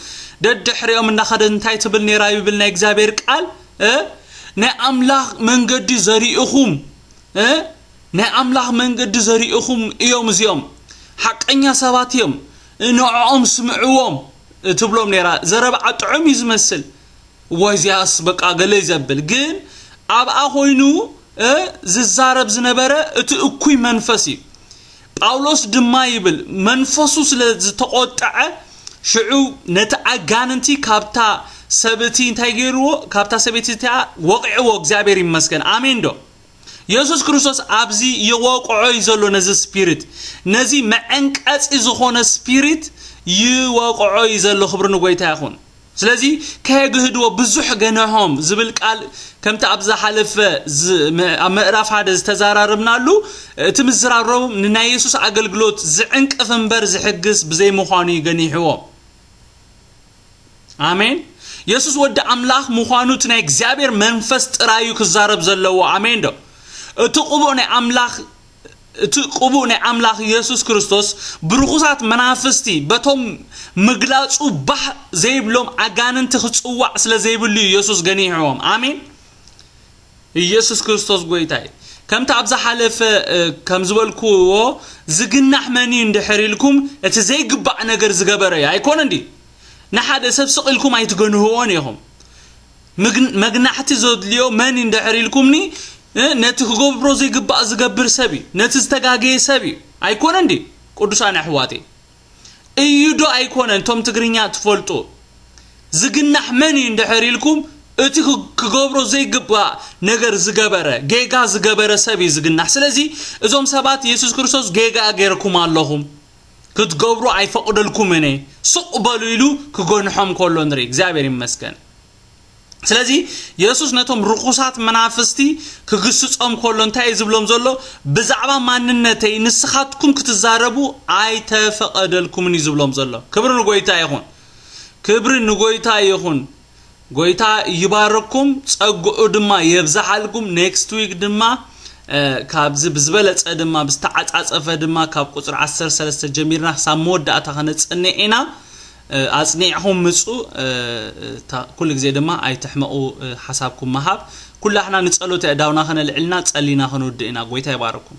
ደድሕሪኦም እናኸደት እንታይ ትብል ነይራ ይብል ናይ እግዚኣብሔር ቃል ናይ ኣምላኽ መንገዲ ዘሪእኹም ናይ ኣምላኽ መንገዲ ዘርእኹም እዮም እዚኦም ሓቀኛ ሰባት እዮም ንዕኦም ስምዕዎም ትብሎም ነይራ ዘረብዓ ጥዑም እዩ ዝመስል እዋይ እዚኣስ በቃ ገለ እዩ ዘብል ግን ኣብኣ ኮይኑ ዝዛረብ ዝነበረ እቲ እኩይ መንፈስ እዩ ጳውሎስ ድማ ይብል መንፈሱ ስለ ዝተቆጠዐ ሽዑ ነቲ ኣጋንንቲ ካብታ ሰብእቲ እንታይ ገይርዎ ካብታ ሰበይቲ እቲኣ ወቂዕዎ እግዚኣብሔር ይመስገን ኣሜን ዶ የሱስ ክርስቶስ ኣብዚ ይወቅዖ እዩ ዘሎ ነዚ ስፒሪት ነዚ መዐንቀጺ ዝኾነ ስፒሪት ይወቅዖ እዩ ዘሎ ክብሪ ንጎይታ ይኹን ስለዚ ከየግህድዎ ብዙሕ ገነሖም ዝብል ቃል ከምቲ ኣብ ዝሓለፈ ኣብ ምዕራፍ ሓደ ዝተዘራረብናሉ እቲ ምዝራሮም ንናይ የሱስ ኣገልግሎት ዝዕንቅፍ እምበር ዝሕግስ ብዘይምዃኑ እዩ ገኒሕዎም ኣሜን የሱስ ወዲ ኣምላኽ ምዃኑ እቲ ናይ እግዚኣብሔር መንፈስ ጥራይ እዩ ክዛረብ ዘለዎ ኣሜን ዶ እቲ ቅቡእ ናይ ኣምላኽ እቲ ቅቡእ ናይ ኣምላኽ የሱስ ክርስቶስ ብርኹሳት መናፍስቲ በቶም ምግላጹ ባህ ዘይብሎም ኣጋንንቲ ክጽዋዕ ስለ ዘይብሉ እዩ የሱስ ገኒሕዎም ኣሜን ኢየሱስ ክርስቶስ ጎይታ እዩ። ከምቲ ኣብ ዝሓለፈ ከም ዝበልኩዎ ዝግናሕ መን እዩ እንድሕር ኢልኩም እቲ ዘይግባእ ነገር ዝገበረ እዩ ኣይኮነን ድዩ? ንሓደ ሰብ ስቕ ኢልኩም ኣይትገንህዎን ኢኹም። ምግን- መግናሕቲ ዘድልዮ መን እዩ እንድሕር ኢልኩምኒ እ፣ ነቲ ክገብሮ ዘይግባእ ዝገብር ሰብ እዩ። ነቲ ዝተጋገየ ሰብ እዩ። ኣይኮነን ድዩ? ቅዱሳን ኣሕዋተይ እዩ ዶ ኣይኮነን ቶም ትግርኛ ትፈልጡ ዝግናሕ መን እዩ እንድሕር ኢልኩም እቲ ክገብሮ ዘይግባእ ነገር ዝገበረ ጌጋ ዝገበረ ሰብ እዩ ዝግናሕ ስለዚ እዞም ሰባት የሱስ ክርስቶስ ጌጋ ጌርኩም ኣለኹም ክትገብሩ ኣይፈቕደልኩምን እየ ስቕ በሉ ኢሉ ክገንሖም ከሎ ንርኢ እግዚኣብሔር ይመስገን ስለዚ የሱስ ነቶም ርኹሳት መናፍስቲ ክግስጾም ከሎ እንታይ እዩ ዝብሎም ዘሎ ብዛዕባ ማንነተይ ንስኻትኩም ክትዛረቡ ኣይተፈቐደልኩምን እዩ ዝብሎም ዘሎ ክብሪ ንጎይታ ይኹን ክብሪ ንጎይታ ይኹን ጎይታ ይባረኩም ጸግኡ ድማ የብዛሓልኩም ኔክስት ዊክ ድማ ካብዚ ብዝበለጸ ድማ ብዝተዓጻጸፈ ድማ ካብ ቁፅሪ 13 ጀሚርና ክሳብ መወዳእታ ከነጽንዕ ኢና ኣጽኒዕኹም ምጹ ኩሉ ግዜ ድማ ኣይትሕመቁ ሓሳብኩም ምሃብ ኩላሕና ንጸሎት የእዳውና ከነልዕልና ጸሊና ክንውድእ ኢና ጎይታ ይባርኩም።